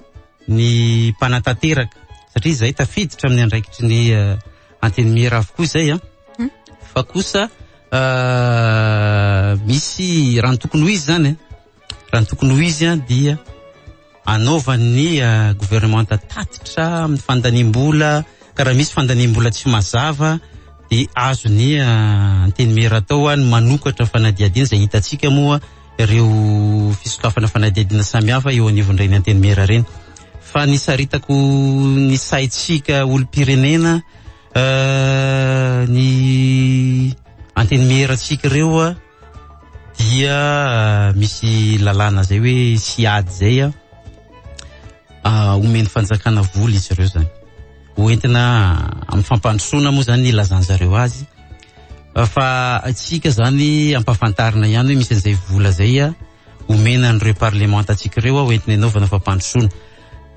ny mpanatanteraka satria izay tafiditra amin'ny andraikitry ny euh, antenimiera avokoa izay an ah. mhm. fa kosa euh, misy raha ny tokony ho izy zany eh. raha ny tokony ho izy an dia anaovan'ny euh, gouvernementa tatitra amin'ny fandaniam-bola ka raha misy fandaniam-bola tsy mazava de azony euh, antenimera atao any manokatra fanadihadiana izay hitantsika moa ireo fisokafana fanadihadiana samihafa eo anivon'ireny antenimera ireny fa nisaritako ny saintsika olom-pirenena Ny antenimierantsika ireo dia misy lalàna zay hoe tsy ady zay a ah, omen'ny fanjakana vola izy ireo zany hoentina amin'ny fampandrosoana moa zany ilazany zareo azy fa atsika zany ampafantarina ihany hoe misy an'izay vola zay a omena an'ireo parlemanta atsika ireo a hoentina anaovana fampandrosoana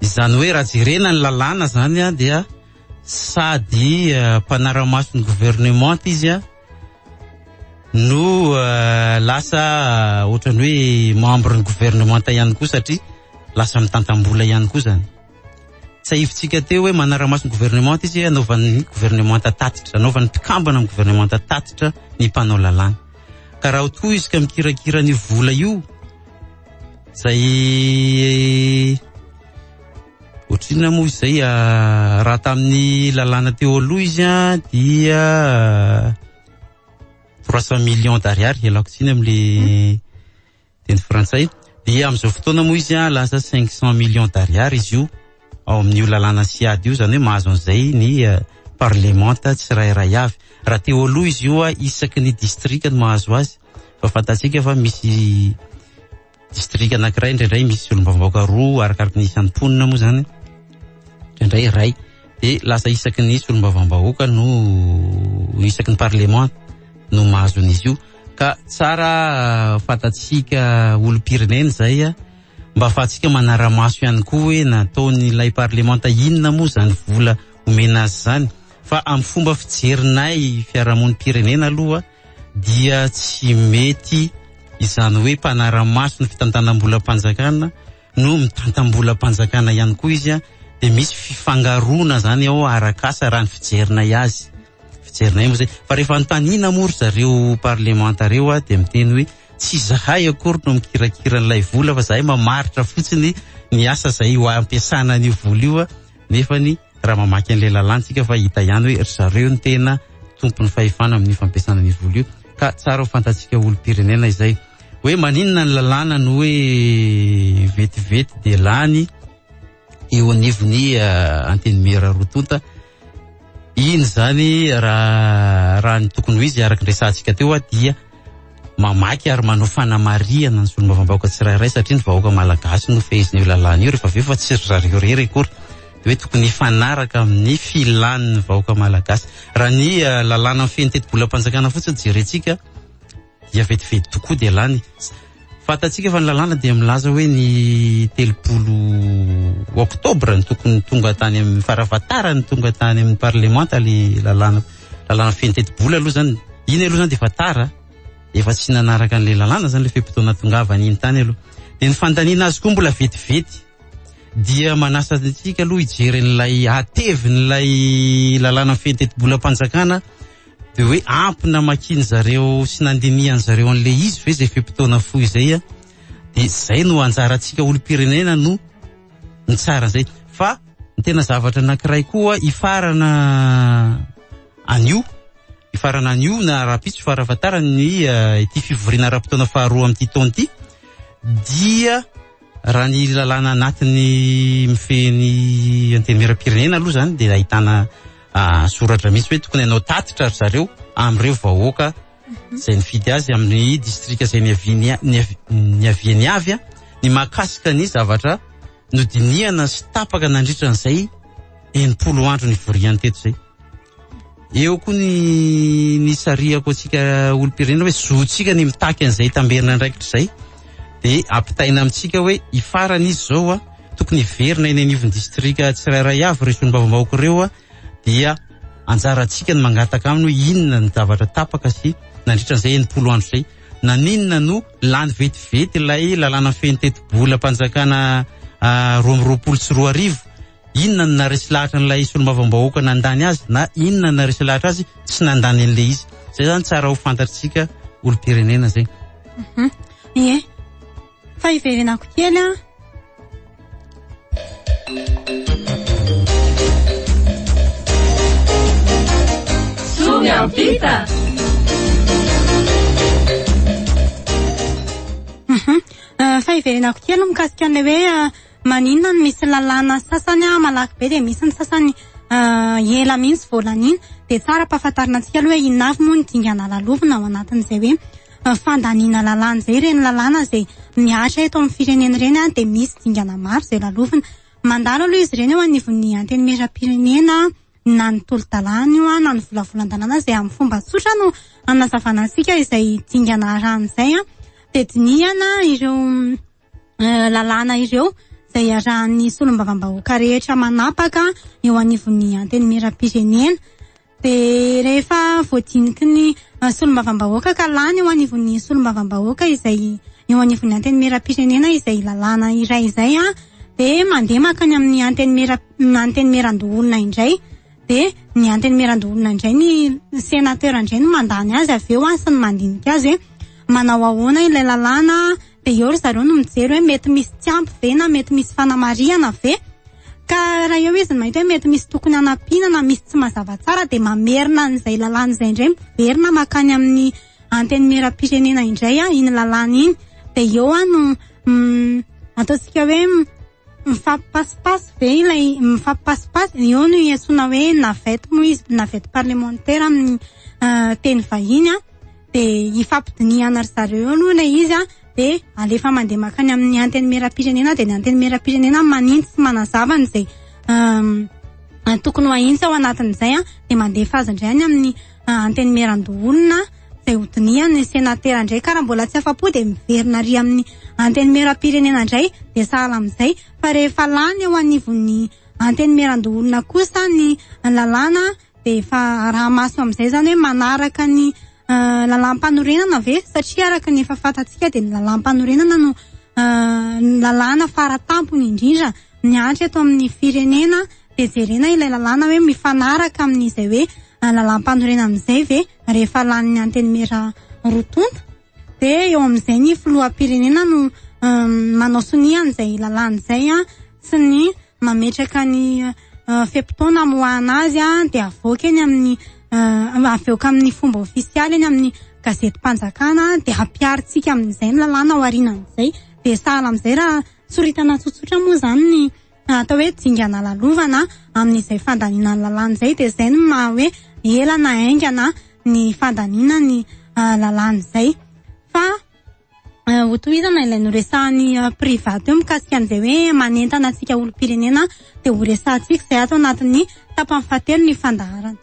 izany hoe raha jerena ny lalàna zany a dia sady mpanara-maso ny gouvernementa izy an, no lasa ohatran'ny hoe membre ny gouvernementa ihany koa satria lasa mitantam-bola ihany koa zany. Tsahivintsika teo hoe manara-maso ny gouvernementa izy anaovan'ny gouvernementa tatitra, anaovan'ny mpikambana amin'ny gouvernementa tatitra ny mpanao lalàna. Ka raha toa izy ka mikirakira ny vola io, zay Ohatrinona moa izay ah, raha tamin'ny lalàna teo aloha izy an, ah, dia ah, trois cent millions d'ariary ialako tsiny amin'le teny frantsay dia amin'izao fotoana moa izy an, ah, lasa cinq cent millions d'ariary izy io ao amin'io lalàna sy ady io izany hoe mahazo an'izay ny ah, parlemanta tsirairay avy raha teo aloha izy io isaky ny distrika no mahazo azy fa fantatsika fa misy Distrika anankiray indraindray misy solombavambahoaka roa arakaraky ny isan'ny mponina moa zany. Indraindray iray dia lasa isaky ny solombavambahoaka no isaky ny parlemanta no mahazo an'izy io ka tsara ah, fatatsika olom-pirenena izay ah, mba fatsika manara-maso ihany koa hoe nataon'ilay parlemanta inona moa izany vola omena azy izany fa amin'ny fomba fijerinay fiarahamonim-pirenena aloha dia tsy mety izany hoe mpanara-maso ny fitantanam-bolam-panjakana no mitantam-bolam-panjakana ihany koa izy dia misy fifangaroana zany ao arakasa raha ny fijerinay azy fijerinay moa zay fa rehefa antanina moa ry zareo parlemanta reo a dia miteny hoe tsy zahay akory no mikirakira an'ilay vola fa zahay mamaritra fotsiny ny asa zay ho ampiasana an'io vola io a nefa ny raha mamaky an'ilay lalàntsika fa hita ihany hoe ry zareo ny tena tompon'ny fahefana amin'ny fampiasana ny vola io ka tsara ho fantatsika olom-pirenena izay hoe maninona ny lalàna no hoe vetivety dia lany eo anivon'ny uh, antenimiera roa tonta iny zany raha raha ny tokony ho izy araka ny resantsika teo a dia mamaky ary manao fanamarihana ny solombavambahoaka tsirairay satria ny vahoaka malagasy no fehezin'io lalàna io rehefa avy eo fa tsy ry zareo rery akory hoe tokony hifanaraka amin'ny filan'ny vahoaka malagasy raha ny eh, lalàna feno tetibolam-panjakana fotsiny jerentsika dia vetivety tokoa dia lany Fantatsika fa ny lalàna dia milaza hoe ny telopolo oktobra ny tokony tonga tany amin'ny farafantara ny tonga tany amin'ny parlemanta le lalàna lalàna feno tetibola aloha zany iny aloha zany dia efa tara efa tsy nanaraka an'le lalàna zany le fe-potoana tongavany iny tany aloha dia ny fandaniana azy koa mbola vetivety dia manasa antsika aloha hijery an'ilay hatevin'ilay lalàna feno tetibolam-panjakana de hoe ampy namakiany zareo sy nandinihany zareo an'le izy ve zay fe-potoana fohy zay an, de zay no anjarantsika olom-pirenena no mitsara an'izay fa ny tena zavatra anakiray koa hifarana anio hifarana anio na rahampitso fara fahatarany ny eh, ity fivoriana ara-potoana faharoa amin'ity taona ity dia raha ny lalàna anatiny mifehy ny antenimieram-pirenena aloha zany dia ahitana ah, soratra mihitsy hoe tokony hanao tatitra ry zareo amin'ireo vahoaka mhm. izay nifidy azy amin'ny distrika izay niaviany avy a ny mahakasika ny zavatra nodinihana sy tapaka nandritra an'izay enimpolo andro ny voriany teto izay eo koa ny ny sariako antsika olom-pirenena hoe zontsika ny mitaky an'izay tamberina andraikitra izay de ampitaina amintsika hoe hifarana izy zao a tokony hiverina eny anivon'ny distrika tsirairay avy ireo solombavambahoaka ireo a dia anjarantsika ny mangataka aminy hoe inona ny zavatra tapaka sy nandritra an'izay enimpolo andro izay naninona no lany vetivety ilay lalàna feno tetibolam-panjakana ah, roa amby roapolo sy roa arivo Inona no naharesy lahatra an'ilay solombavambahoaka nandany azy na inona no naharesy lahatra azy tsy nandany an'ilay izy. Zay zany tsara ho fantatsika olom-pirenena zay. Mhm. Ie. Fa hiverenako kely an. Soa miampita. Mhm. Ah, fa hiverenako kely mikasika an'ilay hoe ah, Maninona no misy lalàna sasany malaky be dia misy ny sasany ela mihitsy vao laniana? Dia tsara ampahafantarina antsika aloha hoe inona avy moa ny dingana lalovina ao anatin'izay hoe fandaniana lalàna izay. Ireny lalàna izay mihatra eto amin'ny firenena ireny dia misy dingana maro izay lalovina. Mandalo aloha izy ireny eo anivon'ny Antenimierampirenena na ny tolo-dalàna io na ny volavolan-dalàna izay amin'ny fomba tsotra no hanazavana antsika izay dingana arahina izay. Dia dinihana ireo eh, lalàna ireo izay iarahan'ny solombavambahoaka rehetra manapaka eo anivon'ny antenimieram-pirenena dia rehefa voadiniky ny eh, solombavambahoaka ka lany eo anivon'ny solombavambahoaka izay eo anivon'ny antenimieram-pirenena izay lalàna iray izay a dia mandeha maka ny amin'ny antenimiera- mm, antenimieran-doholona indray dia ny antenimieran-doholona indray ny sénateur indray no mandany azy avy eo a sy ny mandinika azy hoe manao ahoana ilay lalàna Dia eo ry zareo no mijery hoe mety misy tsy ampy ve na mety misy fanamarihana ve. Ka raha eo izy no mahita hoe mety misy tokony hanampiana na misy tsy mazava tsara dia mamerina an'izay lalàna izay indray miverina makany amin'ny antenimieram-pirenena indray iny lalàna iny. Dia eo no ataontsika hoe mifampipasipasy ve ilay mifampipasipasy, eo no iantsoana hoe navette moa izy, navette parlementaire amin'ny teny vahiny an. de hifampidinihana ry zareo eo aloha ilay izy an, de alefa mandeha mankany amin'ny antenimieram-pirenena de ny antenimieram-pirenena manintsy sy manazava an'izay tokony ho ahintsy ao anatin'izay an, de mandefa azy indray any amin'ny antenimieran-doholona izay hodinihany, ny senatera indray ka raha mbola tsy afa-po de miverina ary amin'ny antenimieram-pirenena indray de sahala amin'izay, fa rehefa lany eo anivon'ny antenimieran-doholona kosa ny lalàna dia efa araha-maso amin'izay izany hoe manaraka ny eh, lalàm-panorenana ve? Satria araka ny efa fantatsika dia ny lalàm-panorenana no eh, ny lalàna faratampony indrindra mihantra eto amin'ny firenena dia jerena ilay lalàna hoe mifanaraka amin'izay hoe eh, lalàm-panorenana izay ve rehefa lanin'ny antenimiera roa tonta dia eo amin'izay ny filoham-pirenena no manao sonia an'izay lalàna izay an sy ny mametraka ny fe-potoana amoahana azy an dia avoaka eny amin'ny avoaka amin'ny fomba ofisialy eny amin'ny gazetim-panjakana dia hampiharintsika amin'izay ny lalàna ao aorianan'izay dia sahala amin'izay raha soritana tsotsotra moa izany ny atao hoe dingana lalovana amin'izay fandaniana ny lalàna izay dia izay no maha hoe ela na haingana ny fandaniana ny ah, lalàna izay fa ah, hotohizana ilay noresahan'ny ah, private eo mikasika an'izay hoe manentana antsika olom-pirenena dia horesahantsika izay ato anatin'ny tapany fahatelo ny fandaharana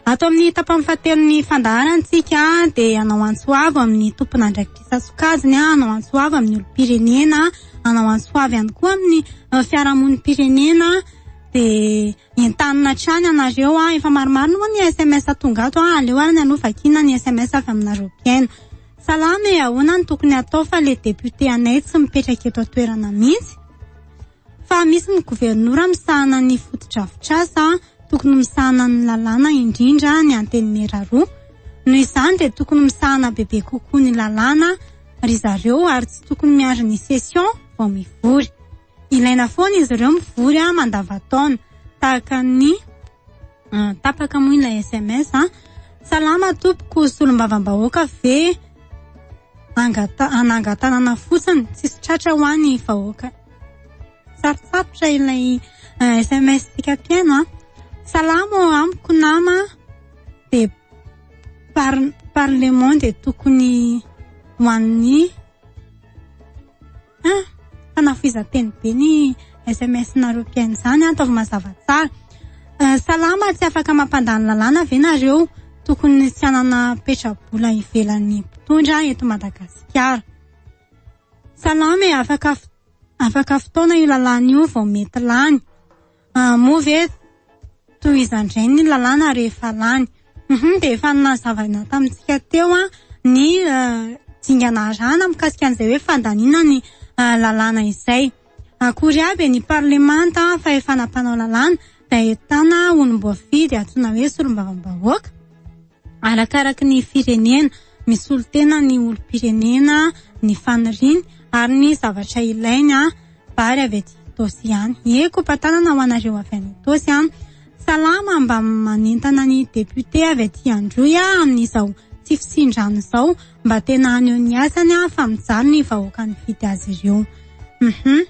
Ato amin'ny tapany fahatelon'ny fandaharantsika dia hanao antso avo amin'ny tompon'andraikitra sokajiny, hanao antso avo amin'ny olom-pirenena, hanao antso avo ihany koa amin'ny fiarahamonim-pirenena dia Entanina hatrany anareo a. Efa maromaro ny moa ny sms tonga ato a. Aleo ary ny anao vakiana ny sms avy aminareo mpiaino. Salama e, ahoana no tokony atao fa le député anay tsy mipetraka eto an-toerana mihitsy? Fa misy ny governora misahana ny fotodrafitrasa, tokony misahana ny lalàna indrindra ny antenimiera roa. Noho izany dia tokony misahana bebe kokoa ny lalàna ry zareo ary tsy tokony miandry ny session vao mivory. Ilaina foana izy ireo mivory ah, mandavantaona tahaka ny ah, tapaka moa ilay SMS ah. Salama tompoko, solombavambahoaka ve angata- anangatanana fotsiny, tsisy tratra ho any vahoaka. Sarosarotra ilay eh, SMS tika mpihaino ah. Salama ao amiko nama de par parlement de tokony ho an'ny Ah, fanafohezan-teny be ny SMS-nareo mpihaino izany, ataovy mazava tsara. Eh, salama, tsy afaka mampandany lalàna ve nareo? Tokony tsy hanana petra-bola ivelan'ny mpitondra eto Madagasikara. Salama e, afaka, afaka fotoana io lalàna io vao mety lany. Ah, moa ve toy izany indray ny lalàna rehefa lany? Hum-hum, dia efa nazavaina tamintsika teo an, ny dingana arahana mikasika an'izay hoe fandaniana ny lalàna izay. Akory avy ny parlemanta fahefana mpanao lalàna, dia ahitana olom-boafidy antsoina hoe solombavambahoaka. Arakaraky ny firenena, misolo tena ny olom-pirenena ny faniriany ary ny zavatra ilainy a vary avy aty Itaosy ihany. Ie kopatanana ho anareo avy any Itaosy an. Salama mba manentana ny député avy aty Androy a amin'izao tsy fisindrana izao mba tena haneho ny asany a fa mijaly ny vahoaka nifidy azy ireo. Uhum.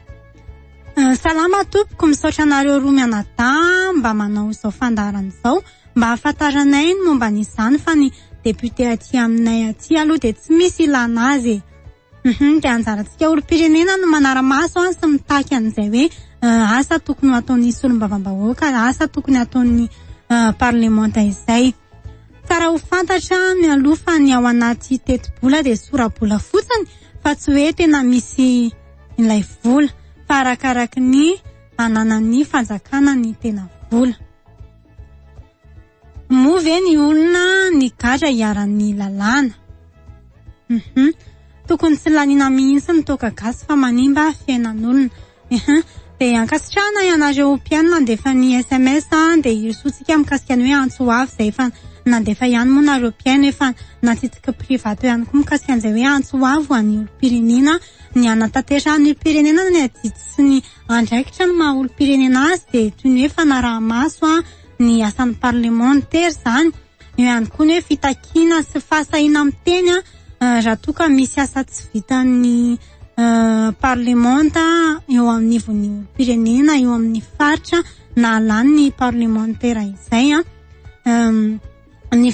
Salama tompoko, misaotra anareo roa mianadahy mba manao izao fandaharana izao. Mba hahafantaranay ny momba an'izany fa ny député aty aminay aty aloha dia tsy misy ilana azy e. Hum dia anjarantsika olom-pirenena no manara-maso an sy mitaky an'izay hoe asa tokony ho ataon'ny solombavambahoaka, asa tokony ataon'ny parlemanta izay. Tsara ho fantatra mialoha fa ny ao anaty tetibola dia sora-bola fotsiny fa tsy hoe tena misy ilay vola fa arakaraky ny ananan'ny fanjakana ny tena vola. Moa ve ny olona nigadra hiharan'ny lalàna? Uhum. Tokony tsy laniana mihitsy ny toaka gasy fa manimba fiainan'olona. Uhum. Dia ankasitrahana ianareo mpihaino nandefa ny SMS dia hirosoantsika mikasika ny hoe antso ho avy izay efa nandefa ihany moa nareo mpihaino efa natsitsiky privato ihany koa mikasika an'izay hoe antso ho avy ho an'ny olom-pirenena ny hanatanterahana ny firenena ny adidy sy ny Andraikitra ny maha olom-pirenena azy dia toy ny hoe fanaraha-maso ny asan'ny parlement ny tery izany. Eo ihany koa ny hoe fitakiana sy fahasahiana miteny raha toa ka misy asa tsy vitan'ny parlement eo anivon'ny olom-pirenena eo amin'ny faritra nahalany ny parlemantera izay. Ny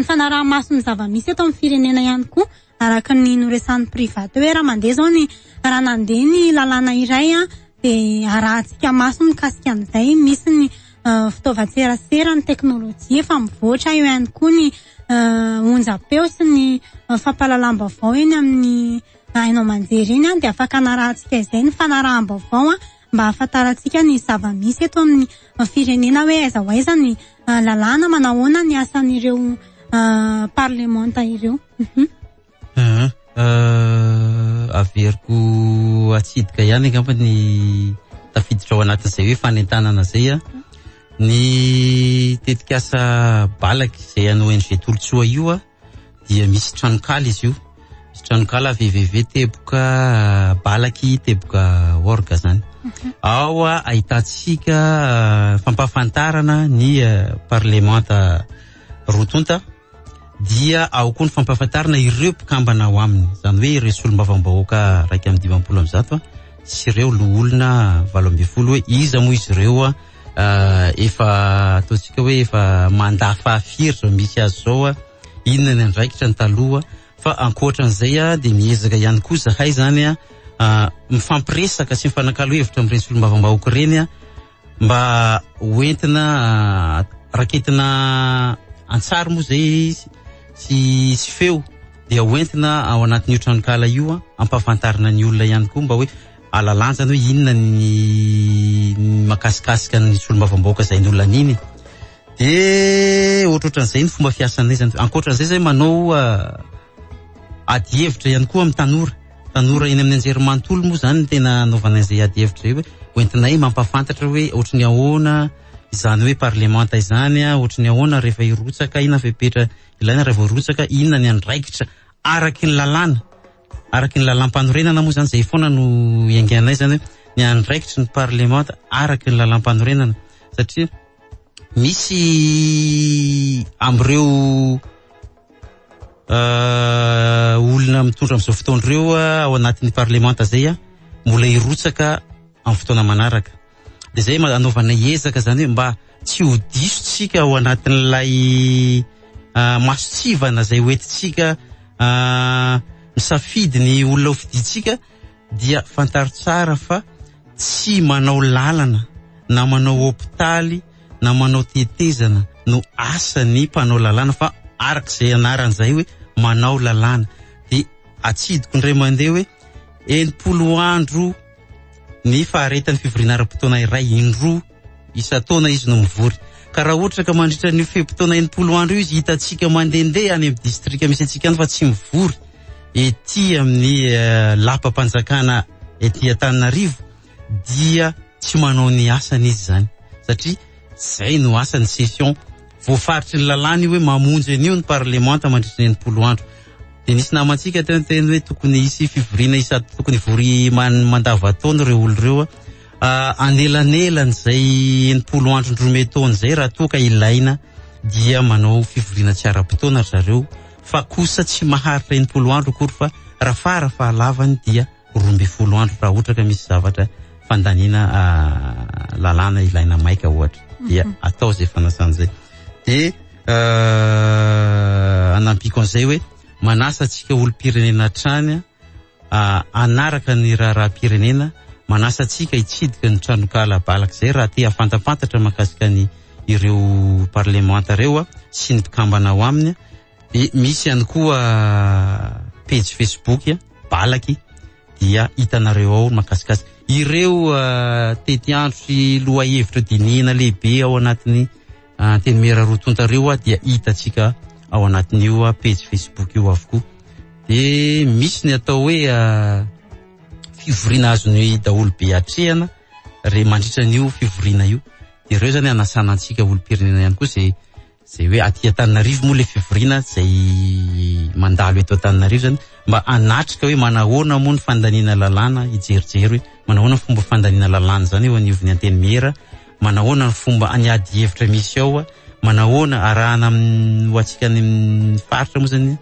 fanaraha-maso ny zava-misy eto amin'ny firenena ihany koa. araka ny noresahan'ny private hoe raha mandeha zao ny raha nandeha ny lalàna iray a dia arahantsika maso mikasika an'izay misy ny euh, fitaovan-tserasera ny teknolojia efa mivoatra eo ihany koa ny euh, onjam-peo sy ny euh, fampahalalam-baovao eny amin'ny haino aman-jery eny a dia afaka anarahantsika izay ny fanaraham-baovao a mba hahafantarantsika ny zava-misy eto amin'ny euh, firenena hoe aiza ho aiza ny euh, lalàna manahoana ny asan'ireo euh, parlemanta ireo Mhm. Ah, ah, averiko atsidika ihany angamba ny tafiditra ao anatin'izay hoe fanentanana izay a. Ny tetikasa Balaky izay an'ny ONG Tolotsoa io a, dia misy tranonkala izy io. Misy tranonkala www teboka ah, balaky teboka org zany. Ao a, ahitantsika ah, fampahafantarana ny ah, parlemanta roa tonta. dia ao koa ny fampahafantarana ireo mpikambana ao aminy, izany hoe ireo solombavambahoaka iraika amby dimampolo amby zato sy ireo loholona valo ambin'ny folo hoe iza moa izy ireo a ah, efa ataontsika hoe efa manda fahafiry izao misy azy izao a, inona ny andraikitra ny taloha fa ankoatran'izay a dia miezaka ihany koa izahay izany a ah, mifampiresaka sy mifanakalo hevitra amin'ireny solombavambahoaka ireny a, Mba ho entina raketina an-tsary moa izay izy sy sy feo dia ho entina ao anatin'io tranonkala io ampahafantarina ny olona ihany koa mba hoe alalanjany hoe inona ny makasikasika ny solombavambahoaka izay ny olona an'iny de ohatrohatran'izay ny fomba fiasanay zany ankoatran'izay zay manao ah, ady hevitra ihany koa amin'ny tanora Tanora eny amin'ny anjerimanontolo moa izany no tena anaovana izay adihevitra izay hoe hoentinay mampahafantatra hoe ohatry ny ahoana izany hoe parlemanta izany, ohatry ny ahoana rehefa hirotsaka, inona fepetra ilaina raha vao hirotsaka, inona ny andraikitra araky ny lalàna, araky ny lalàmpanorenana moa izany izay foana no iainganay izany hoe ny andraikitry ny parlemanta araky ny lalàmpanorenana satria misy amin'ireo Uh, olona mitondra amin'izao fotoana ireo uh, ao anatin'ny parlemanta zay uh, mbola hirotsaka amin'ny fotoana manaraka de zay anaovana ezaka zany hoe mba tsy ho diso tsika ao anatin'ilay uh, masotsivana zay hoentitsika uh, misafidy ny olona ho fiditsika dia fantaro tsara fa tsy manao lalana na manao hopitaly na manao tetezana no asany mpanao lalàna fa araka izay anarany izay hoe manao lalàna dia atsidiko indray mandeha hoe enimpolo andro ny faharetan'ny fivoriana ara-potoana iray indroa isan-taona izy no mivory. Ka raha ohatra ka mandritra an'io fe-potoana enimpolo andro io izy hitantsika mandehandeha any amin'ny distrika misy antsika any fa tsy mivory ety amin'ny eh, lapam-panjakana ety Antananarivo dia tsy manao ny asany izy zany satria zay no asany session voafaritry ny lalàna io hoe mamonjy an'io ny parlemanta mandritra ny enimpolo andro dia nisy namantsika teo ny teny hoe tokony hisy fivoriana isa tokony vory man- mandavataona ireo olo ireo anelanelan'izay enimpolo andro ny roa mey taona izay raha toa ka ilaina dia manao fivoriana tsy ara-potoana ry zareo fa kosa tsy maharitra enimpolo andro akory fa raha fara fahalavany dia roa ambin'ny folo andro raha ohatra ka misy zavatra fandaniana ah, lalàna ilaina maika ohatra dia mhm. atao izay fanasana izay dia euh, anampiako an'izay hoe manasa antsika olom-pirenena hatrany hanaraka ny raharaham-pirenena, manasa antsika hitsidika ny tranonkala balaka izay raha te hafantampantatra mahakasika ny ireo parlemanta ireo sy ny mpikambana ao aminy. Dia misy ihany koa pejy Facebook balaky dia hitanareo ao makasikasika ireo uh, tetiandro sy lohahevitra dinihina lehibe ao anatin'ny Antenimiera roa tonta reo dia hitantsika ao anatin'io pejy Facebook io avokoa. Dia misy ny atao hoe fivoriana azon'ny daholo be atrehana re mandritra an'io fivoriana io. Dia ireo zany anasana antsika olom-pirenena ihany koa izay izay hoe aty Antananarivo moa le fivoriana izay mandalo eto Antananarivo zany mba anatrika hoe manahoana moa ny fandaniana lalàna hijerijery hoe manahoana fomba fandaniana lalàna zany eo anivon'ny antenimiera Manahoana ny fomba any ady hevitra misy ao a, manahoana arahana amin'ny ho antsika any amin'ny faritra moa zany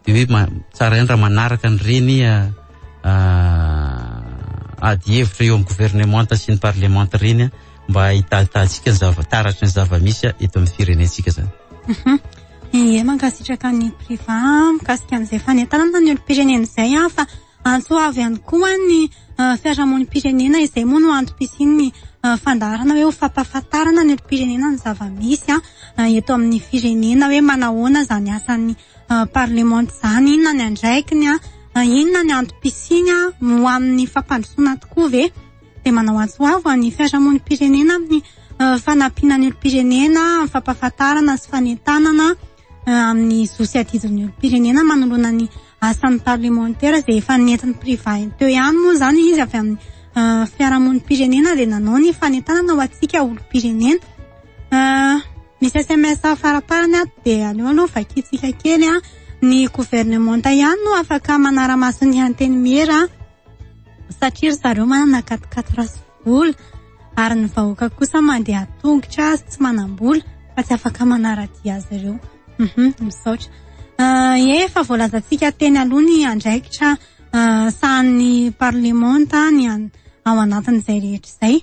de hoe ma- tsara ihany raha manaraka an'ireny ah, ah, ady hevitra eo amin'ny governemanta sy ny parlemanta ireny ah, mba hitahitahintsika ny zava- taratry ny zava-misy ah, eto amin'ny firenentsika zany. Hum Ie, mankasitraka an'i Priva mikasika an'izay fanentanana ny olom-pirenena izay an, fa Antso avo ihany koa ny fiarahamonim-pirenena, izay moa no antom-pisian'ny fandaharana hoe ho fampahafantarana ny olom-pirenena ny zava-misy eto amin'ny firenena hoe manahoana izany asan'ny parlemanta izany, inona ny andraikiny, inona ny antom-pisiany, ho amin'ny fampandrosoana tokoa ve? Dia manao antso avo ho an'ny fiarahamonim-pirenena amin'ny fanampiana ny olom-pirenena amin'ny fampahafantarana sy fanentanana eh, amin'ny zo sy adidin'ny olom-pirenena manoloana ny asan'ny parlemantera izay efa nentin'ny priva teo ihany moa izany izy avy amin'ny eh, fiarahamonim-pirenena dia nanao ny fanentanana ho antsika olom-pirenena eh, misy sms faraparany ato dia aleo aloha vakintsika kely a ny governemanta ihany no afaka manara-maso ny hanteny miera satria ry zareo manana katikaty raso vola ary ny vahoaka kosa mandeha tongotra sy tsy manam-bola fa tsy afaka manara-dia azy ireo. Mhm, misaotra. Ah, efa voalazantsika teny aloha ny andraikitra ah, sahan'ny parlemanta ny an- ao anatin'izay rehetra izay.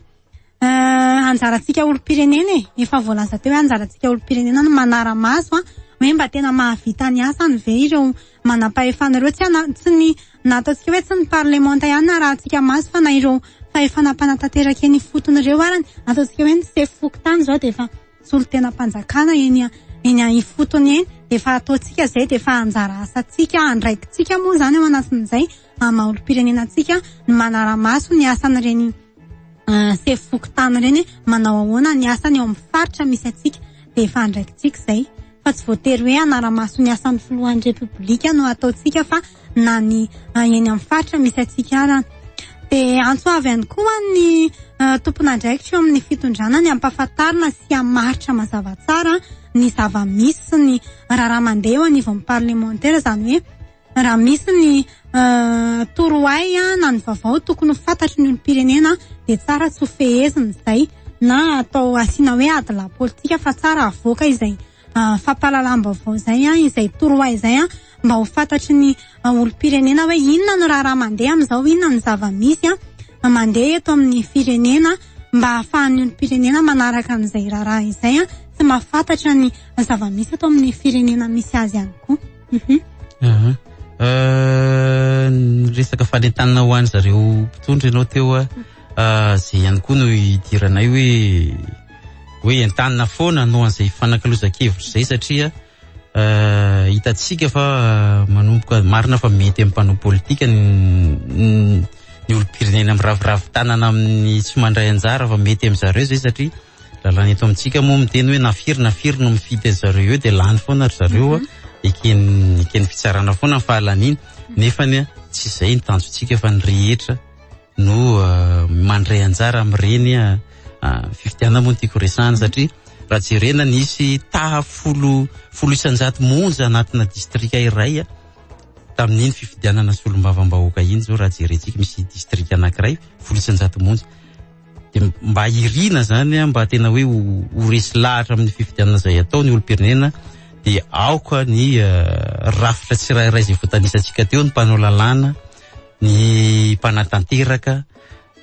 Ah, anjarantsika olom-pirenena e, efa voalaza teo hoe anjarantsika olom-pirenena ny manara-maso an, hoe mba tena mahavita ny asany ve ireo manam-pahefana ireo, tsy ana- tsy ny Na ataontsika hoe tsy ny parlemanta ihany na arahantsika maso fa na ireo fahefana mpanatanteraka eny ifotony ireo ary ny ataontsika hoe ny sefo fokontany izao dia efa solontenam-panjakana eny eny ifotony eny dia efa ataontsika izay dia efa anjara asantsika andraikitsika moa izany ao anatin'izay maha olom-pirenena antsika ny manara-maso ny asan'ireny Ah, sefo fokontany ireny manao ahoana ny asany eo amin'ny faritra misy antsika dia efa andraikitsika izay fa tsy voatery hoe hanara-maso ny asan'ny filohan'ny repoblika no ataontsika fa na ny ah, eny amin'ny faritra misy antsika ara dia antso avy ihany koa ny ah, tompon'andraikitra eo amin'ny fitondrana ny hampafantarina sy hamaritra mazava tsara ny zava-misy sy ny raharaha mandeha eo anivon'ny parlemantera izany hoe Raha misy ny torohay na ny vaovao tokony ho fantatry ny olom-pirenena dia tsara tsy ho fehezina izay na atao asiana hoe adilahy politika fa tsara avoaka izay fampahalalam-baovao izay an, izay torohay izay an, mba ho fantatry ny olom-pirenena hoe inona no raharaha mandeha amin'izao, inona no zava-misy an, mandeha eto amin'ny firenena mba ahafahan'ny olom-pirenena manaraka an'izay raharaha izay an, sy mahafantatra ny zava-misy eto amin'ny firenena misy azy ihany koa. Mhm. Aha. Euh, ny resaka fanentanana ho any zareo mpitondra ianao teo a Ah, zay ihany koa no idiranay hoe hoe entanina foana hanao an'izay fanakalozan-kevitra izay satria ah, hitantsika fa ah, manomboka marina fa mety amin'ny mpanao politika ny ny- ny olom-pirenena miraviravy tanana amin'ny tsy mandray anjara fa mety amin'ny zareo izay satria lalàna eto amintsika moa miteny hoe na firy na firy no mifidy azy zareo eo dia lany foana ry zareo an, mhm. eken'ny eken'ny fitsarana foana ny fahalaniany nefa ny tsy izay ny tanjontsika fa ny rehetra no ah, mandray anjara amin'ireny ah, ah, fifidianana moa ny tiako resahana mhm. satria raha jerena nisy taha folo folo isanjato monja anatina distrika iray a tamin'iny fifidianana solombavam-bahoaka iny zao raha jerentsika misy distrika anankiray folo isanjato monja dia mba irina zany a, mba tena hoe ho resy lahatra amin'ny fifidianana izay atao ny olom-pirenena dia aoka ny eh, rafitra tsirairay izay voatanisantsika teo ny mpanao lalàna ny mpanatanteraka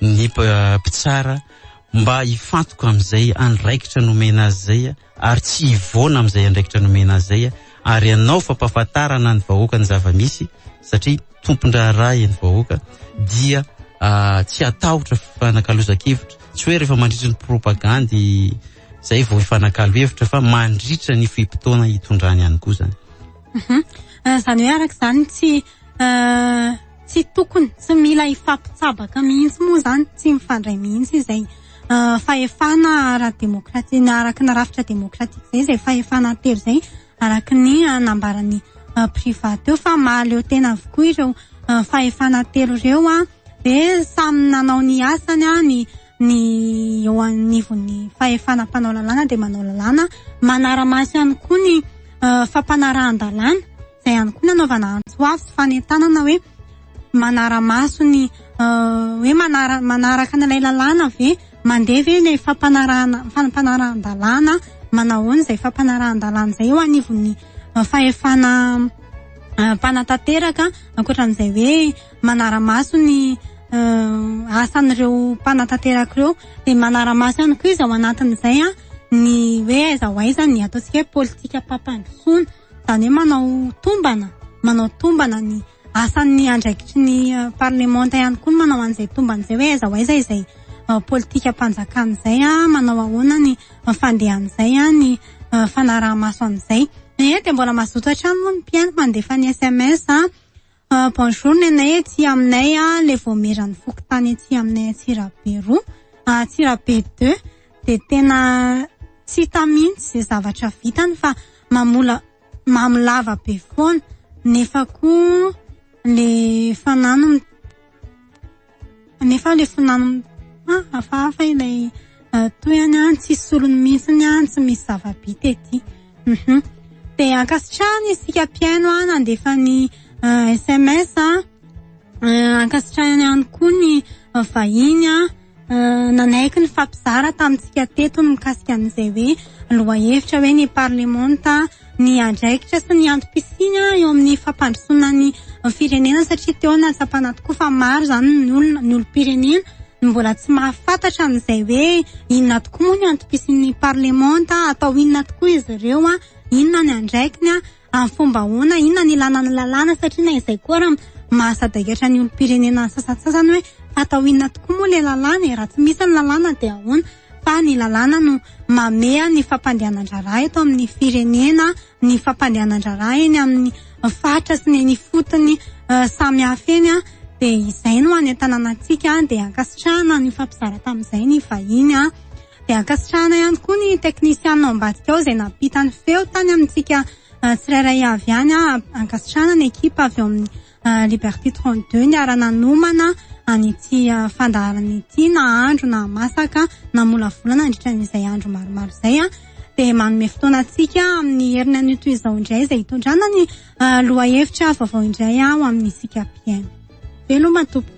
ny mpitsara mba hifantoka amin'izay andraikitra nomena azy izay ary tsy hivoana amin'izay andraikitra nomena azy izay ary hanao fampahafantarana ny vahoaka ny zava-misy satria tompon-draharaha eny vahoaka dia ah, tsy hatahotra fanakalozan-kevitra tsy hoe rehefa mandritra ny propagandy izay vao hifanakalo hevitra fa mandritra ny fe-potoana hitondrany ihany koa izany. Mhm. Ah, Izany hoe araka izany tsy Euh, tsy tokony, tsy mila hifampitsabaka mihitsy moa izany, tsy mifandray mihitsy izay euh, fahefana ara-demokratika, araka ny rafitra demokratika izay, izay fahefana telo izay, araka ny euh, nambaran'ny euh, Priva teo fa mahaleo tena avokoa ireo euh, fahefana telo ireo an, dia samy nanao ny asany an, ny ny eo anivon'ny fahefana mpanao lalàna dia manao lalàna, manara-maso ihany koa ny euh, fampanarahan-dalàna. izay ihany koa nanaovana antso avo sy fanentanana hoe manara-maso ny hoe manaraka an'ilay lalàna ve mandeha ve ilay fampanarahana fampanarahan-dalàna manahoana izay fampanarahan-dalàna izay eo anivon'ny fahefana mpanatanteraka ankoatra an'izay hoe manara-maso ny asan'ireo mpanatanteraka ireo dia manara-maso ihany koa izy ao anatin'izay an ny hoe aiza ho aiza ny ataontsika hoe politika-pampandrosoana Izany hoe manao tombana, manao tombana ny asan'ny andraikitry ny eh, parlemanta ihany koa ny manao an'izay tombana izay hoe aiza ho aiza izay eh, politikam-panjakana izay, ah, manao ahoana ny eh, fandehan'izay, ah, ny eh, fanaraha-maso an'izay. Nefa dia mbola mazoto hatrany moa ny mpihaino mandefa ny SMS, ah, Ah, bonjour nenay aty aminay a le voamieran'ny fokontany aty aminay Antsirabe roa, Antsirabe deux de tena tsy hita mihitsy ze zavatra vitany fa mamola- mamo lava be foana nefa koa le fanahy no m-. Nefa ilay filànan'ny ah, hafahafa ilay ah, tohany an, tsy solony mihitsy ny an, tsy misy zava-bita ety. Mhm. Dia ankasitrahana isika mpihaino an, nandefa ny SMS ah, an. Eh, ankasitrahana ihany koa ny ah, vahiny an, ah, nanaiky ny fampizara tamintsika teto ny mikasika an'izay hoe lohahevitra hoe ny parlemanta ny andraikitra sy ny antom-pisiany eo amin'ny fampandrosoana ny firenena satria teo no nahatsapana tokoa fa maro izany ny olona, ny olom-pirenena no mbola tsy mahafantatra an'izay hoe inona tokoa moa ny antom-pisian'ny parlemanta, atao inona tokoa izy ireo, inona ny andraikiny, amin'ny fomba ahoana, inona no ilàna ny lalàna satria na izay koa ary mahasadaikatra ny olom-pirenena sasantsasany hoe atao inona tokoa moa ilay lalàna e, raha tsy misy ny lalàna dia ahoana. fa ny lalàna no mameha ny fampandehanan-draharaha eto amin'ny firenena, ny fampandehanan-draharaha eny amin'ny faritra sy ny eny ifotony eh, samihafa eny an, dia izay no hanentanana antsika dia ankasitrahana ny nifampizara tamin'izay ny vahiny an, dia ankasitrahana ihany koa ny teknisianina ao ambadika ao izay nampita ny feo tany amintsika eh, tsirairay avy any an, ankasitrahana ny ekipa avy ao amin'ny Ah, Liberty 32 niara-nanomana an'ity ah, fandaharana ity na andro na masaka na molavolana nandritra an'izay andro maromaro izay a ah. dia manome fotoana antsika amin'ny heriny an'ito izao indray izay hitondrana ny lohahevitra vaovao indray aho amin'ny isika mpiaino veloma tompoko